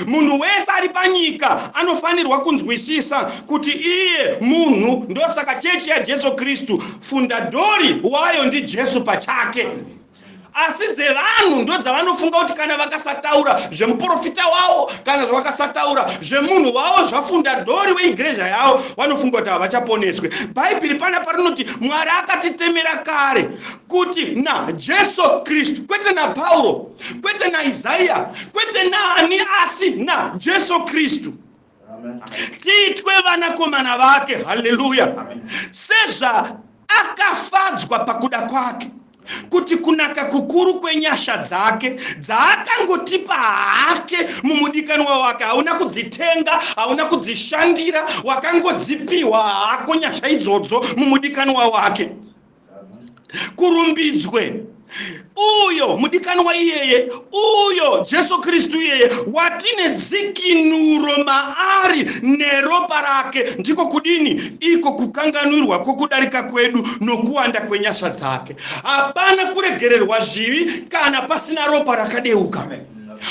Munhu wese ari panyika anofanirwa kunzwisisa kuti iye munhu, ndosaka chechi yaJesu Kristu fundadori wayo ndiJesu pachake. Asi dzevanhu ndodzavanofunga kuti kana vakasataura zvemuprofita wavo kana zvavakasataura zvemunhu wavo zvafundadhori weigreja yavo vanofunga kuti havachaponeswe bhaibheri pana parinoti mwari akatitemera kare kuti najesu kristu kwete napauro kwete naisaya kwete naani asi najesu kristu tiitwe vanakomana vake haleluya sezvaakafadzwa pakuda kwake kuti kunaka kukuru kwenyasha dzake dzaakangotipa hake mumudikanwa wake hauna kudzitenga hauna kudzishandira wakangodzipiwa hako nyasha idzodzo mumudikanwa wake kurumbidzwe uyo mudikanwa iyeye uyo Jesu Kristu iyeye watine dzikinuro maari neropa rake, ndiko kudini? Iko kukanganwirwa kwokudarika kwedu nokuwanda kwenyasha dzake. Hapana kuregererwa zvivi kana pasina ropa rakadeuka.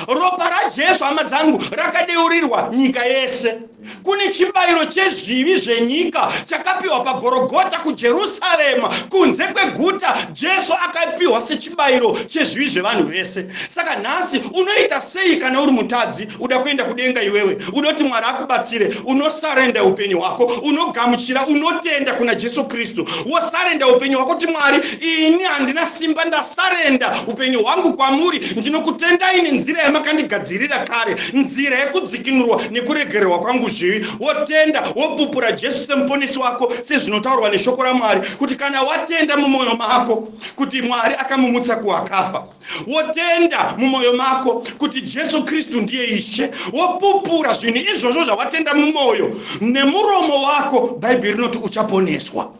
Ropa raJesu, hama dzangu, rakadeurirwa nyika yese. kune chibayiro chezvivi zvenyika chakapiwa pagorogota kujerusarema kunze kweguta jesu akapiwa sechibayiro chezvivi zvevanhu vese saka nhasi unoita sei kana uri mutadzi uda kuenda kudenga iwewe unoti mwari akubatsire unosarenda upenyu hwako unogamuchira unotenda kuna jesu kristu wosarenda upenyu hwako kuti mwari ini handina simba ndasarenda upenyu hwangu kwamuri ndinokutendai nenzira yamakandigadzirira kare nzira yekudzi kudzikinurwa nekuregererwa kwangu zvivi, wotenda, wopupura Jesu seMuponesi wako, sezvinotaurwa neShoko raMwari, kuti kana watenda mumoyo mako kuti Mwari akamumutsa kuwakafa, wotenda mumoyo mako kuti Jesu Kristu ndiye Ishe, wopupura zvinhu izvozvo zvawatenda mumoyo nemuromo wako, Bhaibheri rinoti uchaponeswa.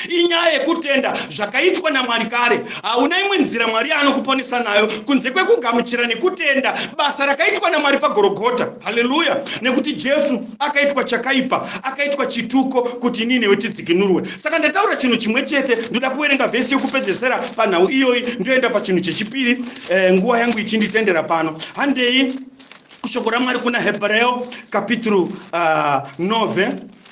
inyaya yekutenda zvakaitwa namwari kare hauna imwe nzira mwari yaanokuponesa nayo kunze kwekugamuchira nekutenda basa rakaitwa namwari pagorogota haleluya nekuti jesu akaitwa chakaipa akaitwa chituko kuti inii newe tidzikinurwe saka ndataura chinhu chimwe chete ndoda kuverenga vhesi yokupedzesera panhau iyoyi ndoenda pachinhu chechipiri eh, nguva yangu ichinditendera pano handei kushoko ramwari kuna hebreo kapituru uh, ah, 9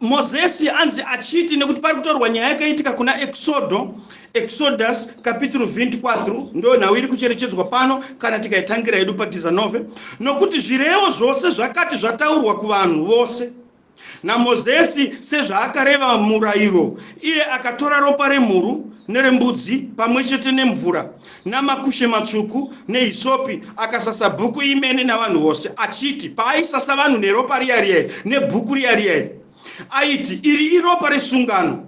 mozesi anzi achiti nekuti pari kutaurwa nyaya yakaitika kuna exodo exodus kapituru 24 ndo nhau iri kucherechedzwa pano kana tikaitangira yedu patizanove nokuti zvirevo zvose zvakati zvataurwa kuvanhu vose namozesi sezvaakareva murayiro iye akatora ropa remhuru nerembudzi pamwe chete nemvura namakushe matsvuku nehisopi, akasasa bhuku imene navanhu vose, achiti paaisasa vanhu neropa riya riya iri nebhuku riya riya iri, aiti, Iri iropa resungano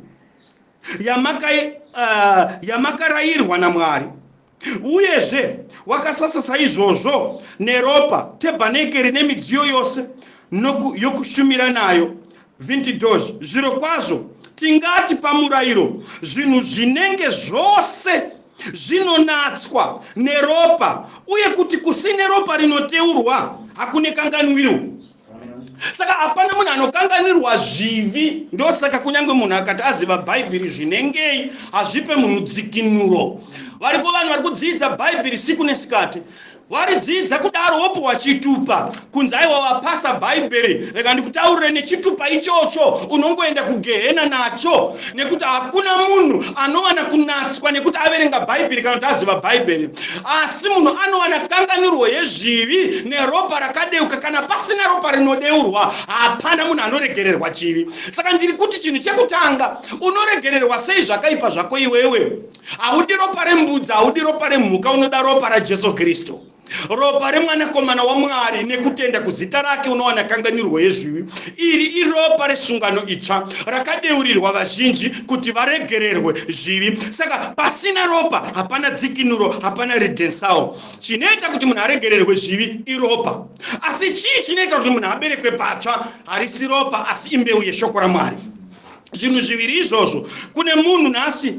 yamaka, uh, yamakarayirwa naMwari. Uyezve wakasasa saizvozvo neropa tebhanekeri nemidziyo yose noku, yokushumira nayo Vintidosh, Zvirokwazvo, tingati pamurairo zvinhu zvinenge zvose zvinonatswa neropa uye kuti kusine ropa rinoteurwa hakune kanganwiro saka hapana munhu anokanganirwa zvivi ndosaka kunyange munhu akati aziva bhaibheri zvinengei hazvipe munhu dzikinuro variko vanhu vari kudzidza bhaibheri siku nesikati Waridzidza kudaro wopiwa chitupa kunzi aiwa wapasa bhaibheri reka ndikutaurire nechitupa ichocho unongoenda kugehena nacho nekuti hakuna munhu anowana kunatswa nekuti averenga bhaibheri kana kuti aziva bhaibheri asi munhu anowana kanganirwo yezvivi neropa rakadeuka kana pasina ropa rinodeurwa hapana munhu anoregererwa chivi saka ndiri kuti chinhu chekutanga unoregererwa sei zvakaipa zvako iwewe haudi ropa rembudzi haudi ropa remhuka unoda ropa rajesu kristu ropa remwanakomana wamwari nekutenda kuzita rake unowana kanganirwo yezvivi iri iropa resungano itsva rakadeurirwa vazhinji kuti varegererwe zvivi saka pasina ropa hapana dzikinuro hapana ridensawo chinoita kuti munhu aregererwe zvivi iropa asi chii chinoita kuti munhu aberekwe patsva harisi ropa asi imbeu yeshoko ramwari zvinhu zviviri izvozvo kune munhu nhasi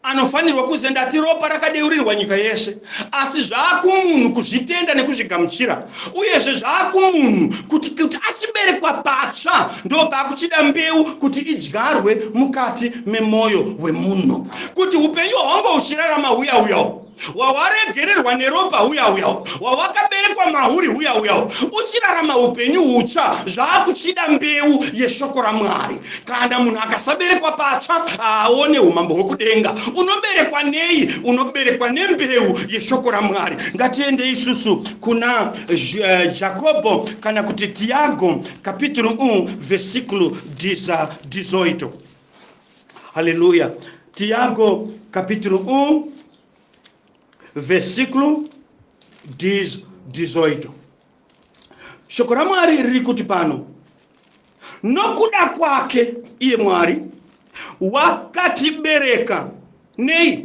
anofanirwa kuziva ndati ropa rakadeurirwa nyika yeshe asi zvaakumunhu kuzvitenda nekuzvigamuchira uyezve zvaakumunhu kuti kuti achiberekwa patsva ndo paakuchida mbeu kuti idyarwe mukati memwoyo wemunhu kuti upenyu hwangu uchirarama huyauyawo wawaregererwa neropa huya uya wawakaberekwa mahuri huya uya uchirarama upenyu hutsva zvaakuchida mbeu yeshoko ramwari kana munhu akasaberekwa patsva haaone umambo hwekudenga unoberekwa nei unoberekwa nembeu yeshoko ramwari ngatiende isusu kuna eh, jakobo kana kuti tiago kapituru u vesikulu diza dizoito Haleluya. Tiago capítulo 1, versículo 18. Shoko raMwari riri kuti pano, nokuda kwake iye Mwari wakatibereka nei?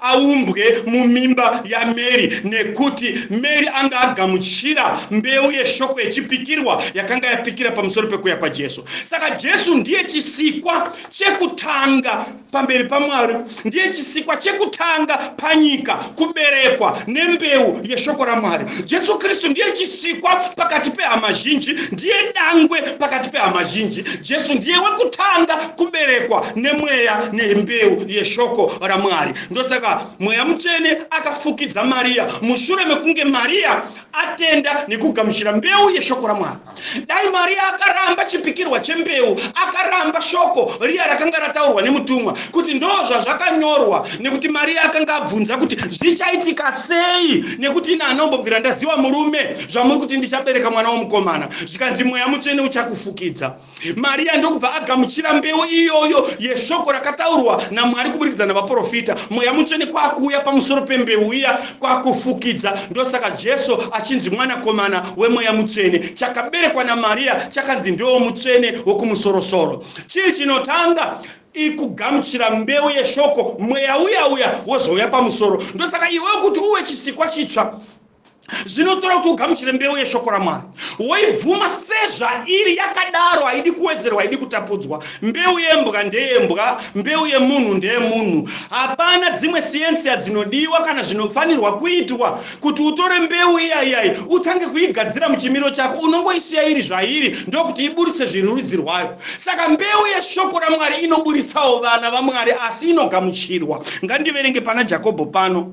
aumbwe mumimba yaMary nekuti Mary anga agamuchira mbeu yeshoko yechipikirwa yakanga yapikira pamusoro pekuuya kwaJesu. Saka Jesu ndiye chisikwa chekutanga pamberi paMwari, ndiye chisikwa chekutanga panyika kuberekwa nembeu yeshoko raMwari. Jesu Kristu ndiye chisikwa pakati pehama zhinji, ndiye dangwe pakati pehama zhinji. Jesu ndiye wekutanga kuberekwa nemweya nembeu yeshoko raMwari. Ndosaka mweya mutsvene akafukidza Mariya mushure mekunge Mariya atenda nekugamuchira mbeu yeshoko raMwari. Dai Mariya akaramba chipikirwa chembeu, akaramba shoko riya rakanga rataurwa nemutumwa kuti ndoo zvazvakanyorwa, nekuti Mariya akanga abvunza kuti zvichaitika sei, nekuti ini handinombobvira ndaziva murume zvamuri kuti ndichabereka mwana womukomana. Zvikanzi mweya mutsvene uchakufukidza. Maria ndokubva agamuchira mbeu iyoyo yeshoko rakataurwa naMwari kuburikidza navaprofita. Mweya mutsvene kwakuuya pamusoro pembeu iya kwakufukidza. Ndosaka Jesu achinzi mwanakomana wemweya mutsvene. Chakaberekwa naMaria chakanzi ndiwo mutsvene wokumusorosoro. Chii chinotanga? ikugamuchira mbeu yeshoko mweya uya uya wozouya pamusoro ndosaka iwe kuti uwe chisikwa chitsva zvinotora kuti ugamuchire mbeu yeshoko ramwari woibvuma sezvairi yakadaro haidi kuwedzerwa haidi kutapudzwa mbeu yembwa ndeyembwa mbeu yemunhu ndeyemunhu hapana dzimwe siensiya dzinodiwa kana zvinofanirwa kuitwa kuti utore mbeu iyaiyai utange kuigadzira muchimiro chako unongoisiya iri zvairi ndokuti iburitse zvirurudzi rwayo saka mbeu yeshoko ramwari inoburitsawo vana vamwari asi inogamuchirwa ngandiverenge pana jakobho pano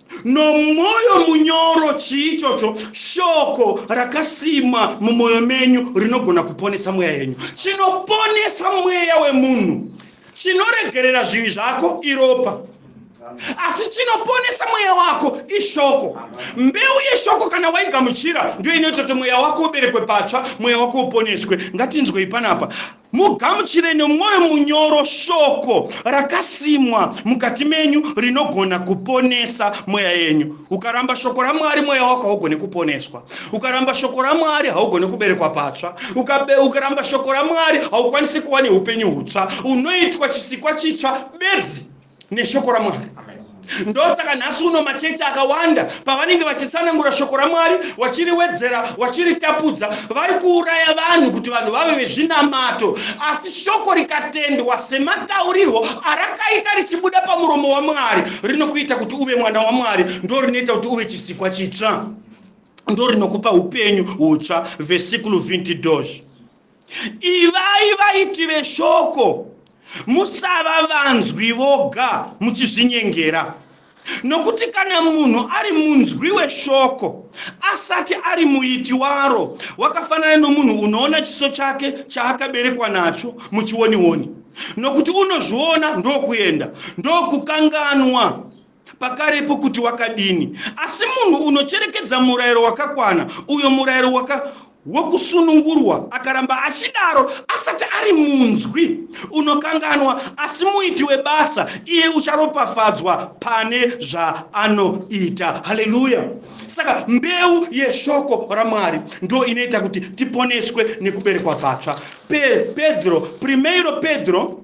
Nomwoyo munyoro, chii ichocho? Shoko rakasimwa mumwoyo menyu rinogona kuponesa mweya yenyu. Chinoponesa mweya wemunhu chinoregerera zvivi zvako iropa asi chinoponesa mweya wako ishoko mbeu yeshoko kana waigamuchira ndiyo inoita kuti mweya wako uberekwe patsva mweya wako uponeswe ngatinzwei panapa Mugamuchire nomwoyo munyoro shoko rakasimwa mukati menyu rinogona kuponesa mweya yenyu. Ukaramba shoko raMwari mweya wako haugone kuponeswa. Ukaramba shoko raMwari haugone kuberekwa patsva. Ukabe, ukaramba shoko raMwari haukwanisi kuva neupenyu hutsva. Unoitwa chisikwa chitsva bedzi. neshoko ramwari ndosaka nhasi uno machechi akawanda pavanenge vachitsanangura shoko ramwari vachiriwedzera vachiritapudza vari kuuraya vanhu kuti vanhu vave vezvinamato asi shoko rikatendwa semataurirwo arakaita richibuda pamuromo wamwari rinokuita kuti uve mwana wamwari ndo rinoita kuti uve chisikwa chitsva ndo rinokupa upenyu hutsva vesikulu 20 dos ivai vaiti veshoko musava vanzwi voga muchizvinyengera nokuti kana munhu ari munzwi weshoko asati ari muiti waro wakafanana nomunhu unoona chiso chake chaakaberekwa nacho muchionioni nokuti unozviona ndokuenda ndokukanganwa pakarepo kuti wakadini, asi munhu unocherekedza murayiro wakakwana, uyo murayiro waka wokusunungurwa akaramba achidaro asati ari munzwi unokanganwa asi muiti webasa iye ucharopafadzwa pane zvaanoita haleluya saka mbeu yeshoko ramwari ndo inoita kuti tiponeswe nekuberekwa patsva Pe, pedro primeiro pedro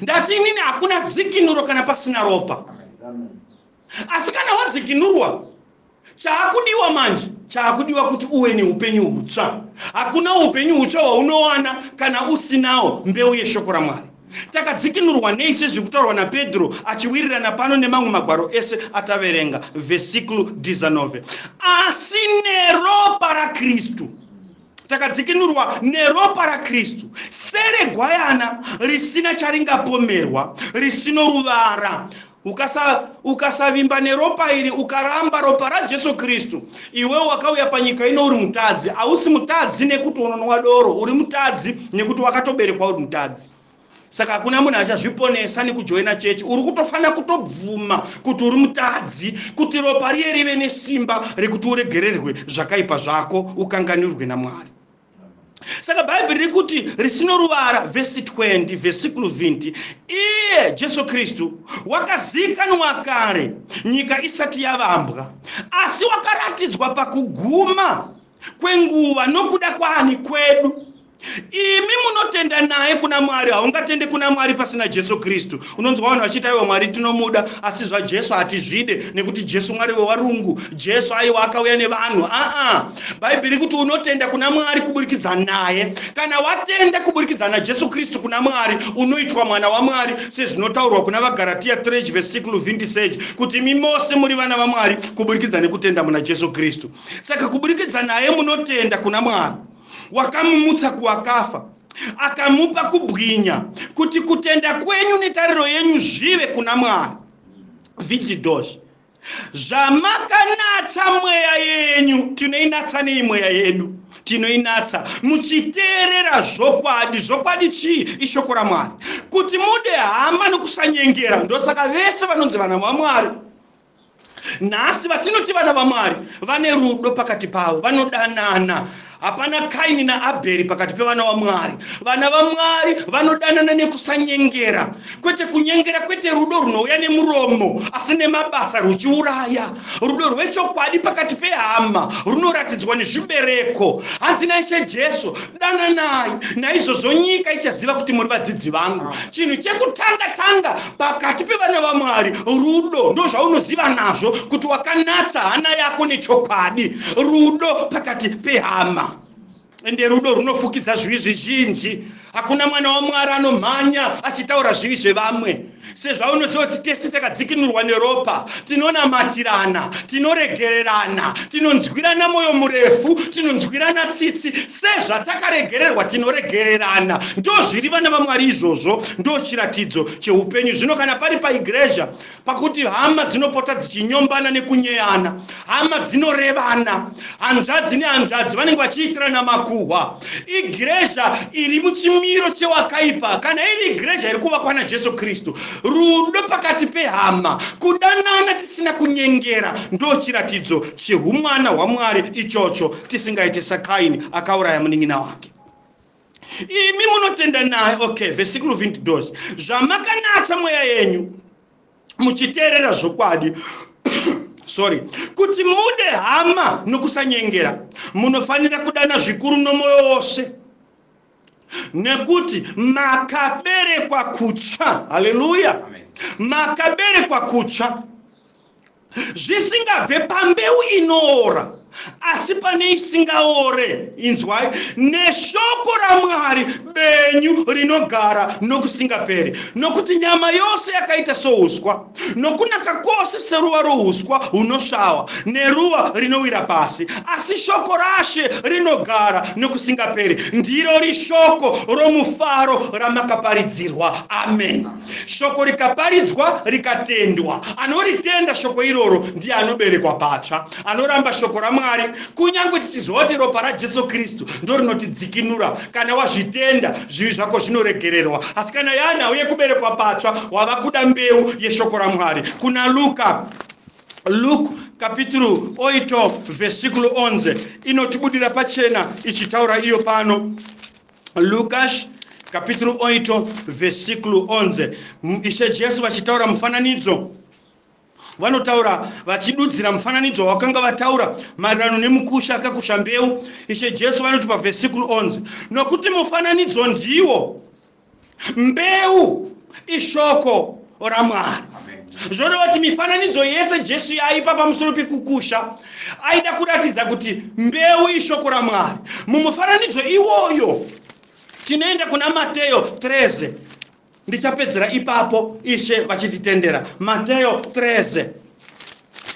ndati inini hakuna dzikinuro kana pasina ropa asi kana wadzikinurwa chaakudiwa manje chaakudiwa kuti uwe neupenyu hutsva hakuna upenyu hutsva hwaunowana kana usinawo mbeu yeshoko ramwari takadzikinurwa nei sezviri kutaurwa napedro achiwirirana pano nemamwe magwaro ese ataverenga vesiclu dizanove asi neropa rakristu takadzikinurwa neropa raKristu seregwayana risina charingapomerwa, risino ruvara. Ukasa, ukasavimba neropa iri ukaramba ropa raJesu Kristu, iwe wakauya panyika ino uri mutadzi. Hausi mutadzi nekuti unonwa doro, uri mutadzi nekuti wakatoberekwa uri mutadzi. saka hakuna munhu achazviponesa nekujoina chechi uri kutofanira kutobvuma kuti uri mutadzi kuti ropa riye rive nesimba rekuti uregererwe zvakaipa zvako ukanganirwe namwari saka bhaibheri riri kuti risino ruvara vhesi 20 vhesikulu 20 iye jesu kristu wakazikanwa kare nyika isati yavambwa asi wakaratidzwa pakuguma kwenguva nokuda kwaani kwedu imi munotenda naye kuna mwari haungatende kuna mwari pasina jesu kristu unonzwa vanhu vachiita aiwa mwari tinomuda asi zvajesu hatizvide nekuti jesu mwari wewarungu jesu aiwa akauya nevanhu aa bhaibheri kuti unotenda kuna mwari kuburikidza naye kana watenda kuburikidza najesu kristu kuna mwari unoitwa mwana wamwari sezvinotaurwa kuna vagaratiya 3 vese 6 luvindi seji kuti imi mose muri vana vamwari kuburikidza nekutenda muna jesu kristu saka kuburikidza naye munotenda kuna mwari wakamumutsa kuwakafa akamupa kubwinya kuti kutenda kwenyu netariro yenyu zvive kuna mwari vididosh zvamakanatsa mweya yenyu tinoinatsa nei mweya yedu tinoinatsa muchiteerera zvokwadi zvokwadi chii ishoko ramwari kuti mude hama nokusanyengera ndosaka vese vanonzi vana vamwari nhasi vatinoti vana vamwari vane rudo pakati pavo vanodanana hapana kaini naabheri pakati pevana vamwari vana vamwari vanodanana nekusanyengera kwete kunyengera kwete rudo runouya nemuromo asi nemabasa ruchiuraya rudo rwechokwadi pakati pehama runoratidzwa nezvibereko hanzi naishe jesu dananai naizvozvo nyika ichaziva kuti muri vadzidzi vangu chinhu chekutanga tanga pakati pevana vamwari rudo ndozvaunoziva nazvo kuti wakanatsa hana yako nechokwadi rudo pakati pehama ende rudo runofukidza zvivi zvizhinji hakuna mwana wamwari anomhanya achitaura zvivi zvevamwe sezvaunoziva kuti tese takadzikinurwa neropa tinonamatirana tinoregererana tinonzwirana mwoyo murefu tinonzwirana tsitsi sezvatakaregererwa tinoregererana ndo zviri vana vamwari izvozvo Ndo chiratidzo chehupenyu zvino kana pari paigreja pakuti hama dzinopota dzichinyombana nekunyeyana hama dzinorevana hanzvadzi nehanzvadzi vanenge vachiitirana makuhwa igreja iri muchimiro chewakaipa kana iri igreja iri kuvakwa najesu kristu rudo pakati pehama kudanana tisina kunyengera ndo chiratidzo chehumwana hwamwari ichocho tisingaite sakaini akauraya munin'ina wake imi munotenda naye okay vesikuru vindidos zvamakanatsa mweya yenyu muchiteerera zvokwadi sorry kuti mude hama nokusanyengera munofanira kudana zvikuru nomwoyo wose nekuti makaberekwa kutsva haleluya makaberekwa kutsva zvisingabve pambeu inoora asi pane isingaore inzwai neshoko ramwari benyu rinogara nokusingaperi nokuti nyama yose yakaita souswa nokunaka kwose seruva rouswa hunosvava neruva rinowira pasi asi shoko rashe rinogara nokusingaperi ndirori shoko romufaro ramakaparidzirwa amen Shoko rikaparidzwa rikatendwa, anoritenda shoko iroro ndiye anoberekwa patsva, anoramba shoko raMwari, kunyange tichiziva kuti ropa raJesu Kristu ndorinotidzikinura. Kana wazvitenda, zvivi zvako zvinoregererwa. Asi kana yava nhau yekuberekwa patsva, wava kuda mbeu yeshoko raMwari. Kuna Luka, Luke kapituru oito vesikulu onze inotibudira pachena ichitaura iyo pano. Lucas capítulo 8, versículo 11. Ishe Jesu vachitaura mufananidzo vanotaura vachidudzira mufananidzo wavakanga vataura maererano nemukusha akakusha mbeu ishe jesu vanoti pavhesikuru 11 nokuti mufananidzo ndiwo mbeu ishoko ramwari zvoreva kuti mifananidzo yese jesu yaipa pamusoro pekukusha aida kuratidza kuti mbeu ishoko ramwari mumufananidzo iwoyo tinoenda kuna mateyo 13 ndichapedzera ipapo ishe vachititendera mateyo 13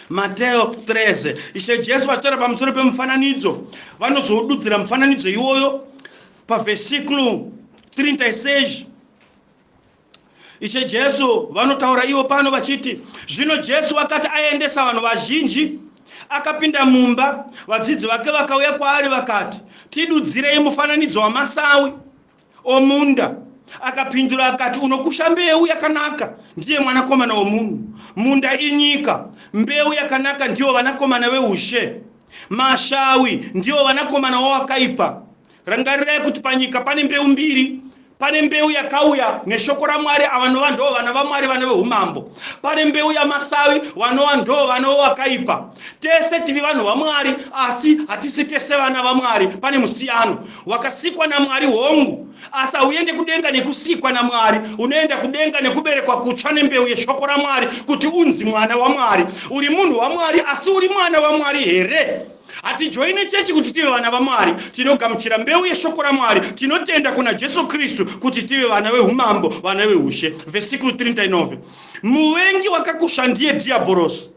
mateyo 13 ishe jesu vachitora pamusoro pemufananidzo vanozoududzira mufananidzo iwoyo pavesiklo 36 ishe jesu vanotaura ivo pano vachiti zvino jesu akati aendesa vanhu vazhinji akapinda mumba vadzidzi vake vakauya kwaari vakati tidudzirei mufananidzo wamasawi omunda akapindura akati unokusha mbeu yakanaka ndiye mwanakomana womunhu munda inyika mbeu yakanaka ndiwo vanakomana veushe mashawi ndiwo vanakomana wowakaipa Rangarirai kuti panyika pane mbeu mbiri pane mbeu yakauya neshoko ramwari avanova ndoo vana vamwari vana veumambo pane mbeu yamasavi vanova ndoo vana wewakaipa tese tiri vanhu vamwari asi hatisi tese vana vamwari pane musiyano wakasikwa namwari hongu asi hauende kudenga nekusikwa namwari unoenda kudenga nekuberekwa kutsva nembeu yeshoko ramwari kuti unzi mwana wamwari uri munhu wamwari asi uri mwana wamwari here Hatijoine chechi kuti tive vana vaMwari. Tinogamuchira mbeu yeshoko raMwari. Tinotenda kuna Jesu Kristu kuti tive vana vehumambo, vana vehushe. Vhesikuru 39. Muvengi wakakusha ndiye Dhiyabhorosi.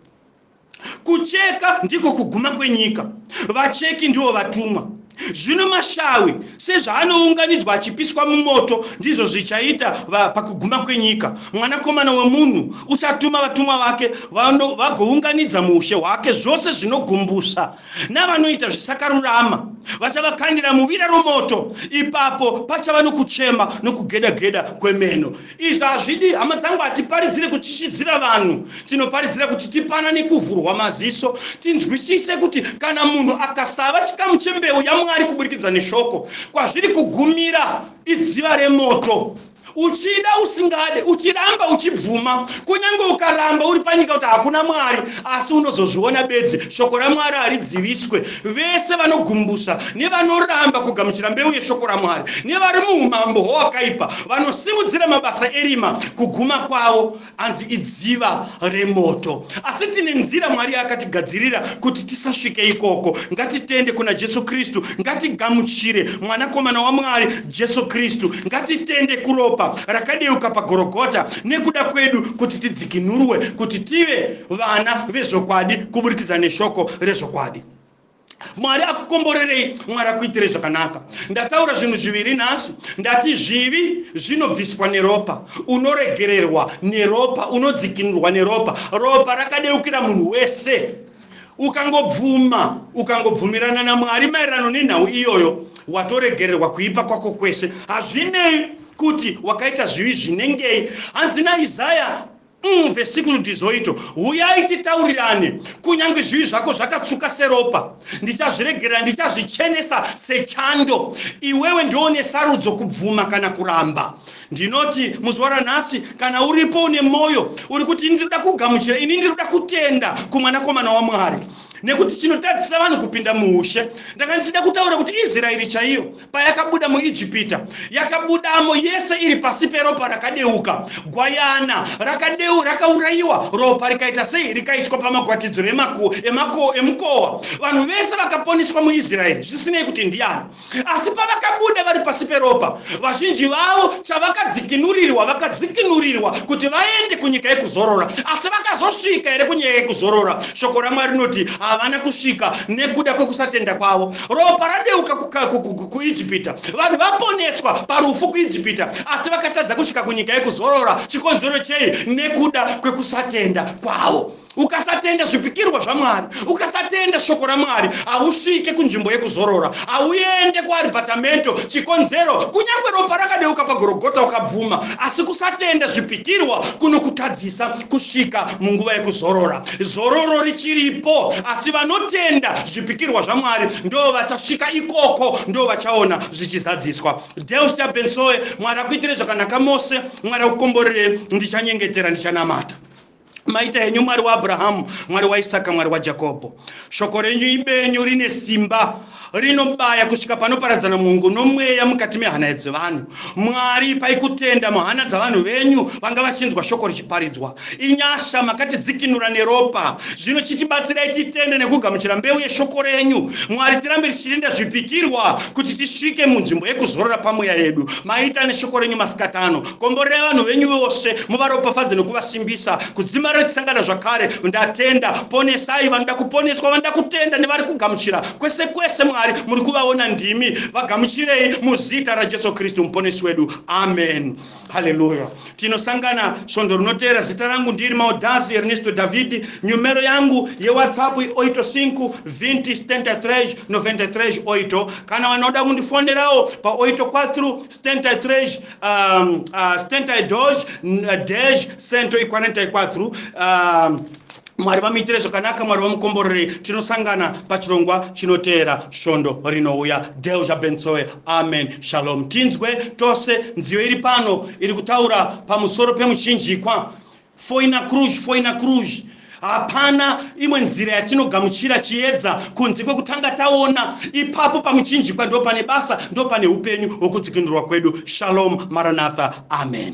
Kucheka ndiko kuguma kwenyika. Vacheki ndivo vatumwa. Zvino mashawi sezvaanounganidzwa achipiswa mumoto ndizvo zvichaita pakuguma kwenyika. Mwanakomana wemunhu uchatuma vatumwa vake Vanhu vagounganidza muushe hwake zvose zvinogumbusa, navanoita zvisakarurama vachavakandira muvira romoto, ipapo pachava nokuchema nokugeda-geda kwemeno. Izvi hazvidi, hama dzangu, hatiparidzire kutyisidzira vanhu. Tinoparidzira kuti tipanane kuvhurwa maziso, tinzwisise kuti kana munhu akasava chikamu chembeu yaMwari kuburikidza neshoko, kwazviri kugumira idziva remoto. uchida usingade uchiramba uchibvuma kunyange ukaramba uri panyika kuti hakuna mwari asi unozozviona bedzi shoko ramwari haridziviswe vese vanogumbusa nevanoramba kugamuchira mbeu yeshoko ramwari nevari muumambo hwowakaipa vanosimudzira mabasa erima kuguma kwavo hanzi idziva remoto asi tine nzira mwari akatigadzirira kuti tisasvike ikoko ngatitende kuna jesu kristu ngatigamuchire mwanakomana wamwari jesu kristu ngatitende kuropa rakadeuka pagorogota nekuda kwedu kuti tidzikinurwe kuti tive vana vezvokwadi kuburikidza neshoko rezvokwadi mwari akukomborerei mwari akuitire zvakanaka ndataura zvinhu zviviri nhasi ndati zvivi zvinobviswa neropa unoregererwa neropa unodzikinurwa neropa ropa rakadeukira munhu wese ukangobvuma ukangobvumirana namwari maererano nenhau iyoyo watoregererwa kuipa kwako kwese hazvinei kuti wakaita zvivi zvinengei hanzi naisaya Umm vesikuru Dizoito huyai titaurirane kunyange zvivi zvako zvakatsvuka seropa ndichazviregerera ndichazvichenesa sechando iwewe ndiwo une sarudzo kubvuma kana kuramba ndinoti muzuva ranhasi kana uripo une mwoyo uri kuti ini ndinoda kugamuchira ini ndinoda kutenda kumwanakomana wamwari nekuti chinotadzisa vanhu kupinda muushe ndanga ndichida kutaura kuti israeri chaiyo payakabuda muijipita yakabudamo yese iri pasi peropa rakadeuka gwayana rakadeu rakaurayiwa ropa rikaita sei rikaiswa pamagwatidzo emukowa vanhu vese vakaponiswa muisraeri zvisinei kuti ndiani asi pavakabuda vari pasi peropa vazhinji vavo chavakadzikinurirwa vakadzikinurirwa kuti vaende kunyika yekuzorora asi vakazosvika here kunyika yekuzorora shoko ramwari rinoti havana kusvika nekuda kwekusatenda kwavo Ropa radeuka kuIjipita, vanhu vaponeswa parufu kuIjipita, asi vakatadza kusvika kunyika yekuzorora. Chikonzero chei? Nekuda kwekusatenda kwavo. Ukasatenda zvipikirwa zvaMwari, ukasatenda shoko raMwari, hausvike kunzvimbo yekuzorora, hauende kuaribatamento. Chikonzero, kunyange ropa rakadeuka pagorogota ukabvuma, asi kusatenda zvipikirwa kunokutadzisa kusvika munguva yekuzorora. Zororo richiripo, asi vanotenda zvipikirwa zvaMwari ndoo vachasvika ikoko, ndoo vachaona zvichizadziswa. Delfta Bensoe, Mwari akuitire zvakanaka mose, Mwari akukomborere, ndichanyengetera, ndichanamata. Maita henyu Mwari waAbrahamu, Mwari waIsaka, Mwari waJakobho. Shoko renyu ibenyu rine simba. rinobaya kusvika panoparadzana mwongo nomweya mukati mehana dzevanhu mwari ipai kutenda muhana dzavanhu venyu vanga vachinzwa shoko richiparidzwa inyasha makatidzikinura neropa zvino chitibatsirai titende nekugamuchira mbeu yeshoko renyu mwari tirambe tichirinda zvipikirwa kuti tisvike munzvimbo yekuzorora pamweya yedu maita neshoko renyu masikatano Komborera vanhu venyu vose, muvaropafadze nokuvasimbisa. Kudzima riri kusangana zvakare. Ndatenda. Ponesai vanoda kuponeswa, vanoda kutenda nevari kugamuchira. Kwese kwese, Mwari, muri kuvaona ndimi. Vagamuchirei muzita raJesu Kristu muponesi wedu. Amen. Haleluya. Tinosangana svondo rinoteera. Zita rangu ndiri Maudhazi Ernesto Davidi. Nyumero yangu yeWhatsApp oito cinco vinte setenta três noventa e três oito. Kana vanoda kundifonerawo paoito quatro setenta e três um, uh, stentai doge uh, dash sento ikwanentai kwatru um, mwari vamuitire zvakanaka mwari vamukomborerei tinosangana pachirongwa chinoteera svondo rinouya del zvabensoe amen shalom tinzwe tose nziyo iri pano iri kutaura pamusoro pemuchinjikwa Foina Cruz, Foina Cruz. Hapana imwe nzira yatinogamuchira chiedza kunze kwekutanga taona. Ipapo pamuchinjikwa ndo pane basa, ndo pane upenyu hwokudzikinurwa kwedu. Shalom, Maranatha. Amen.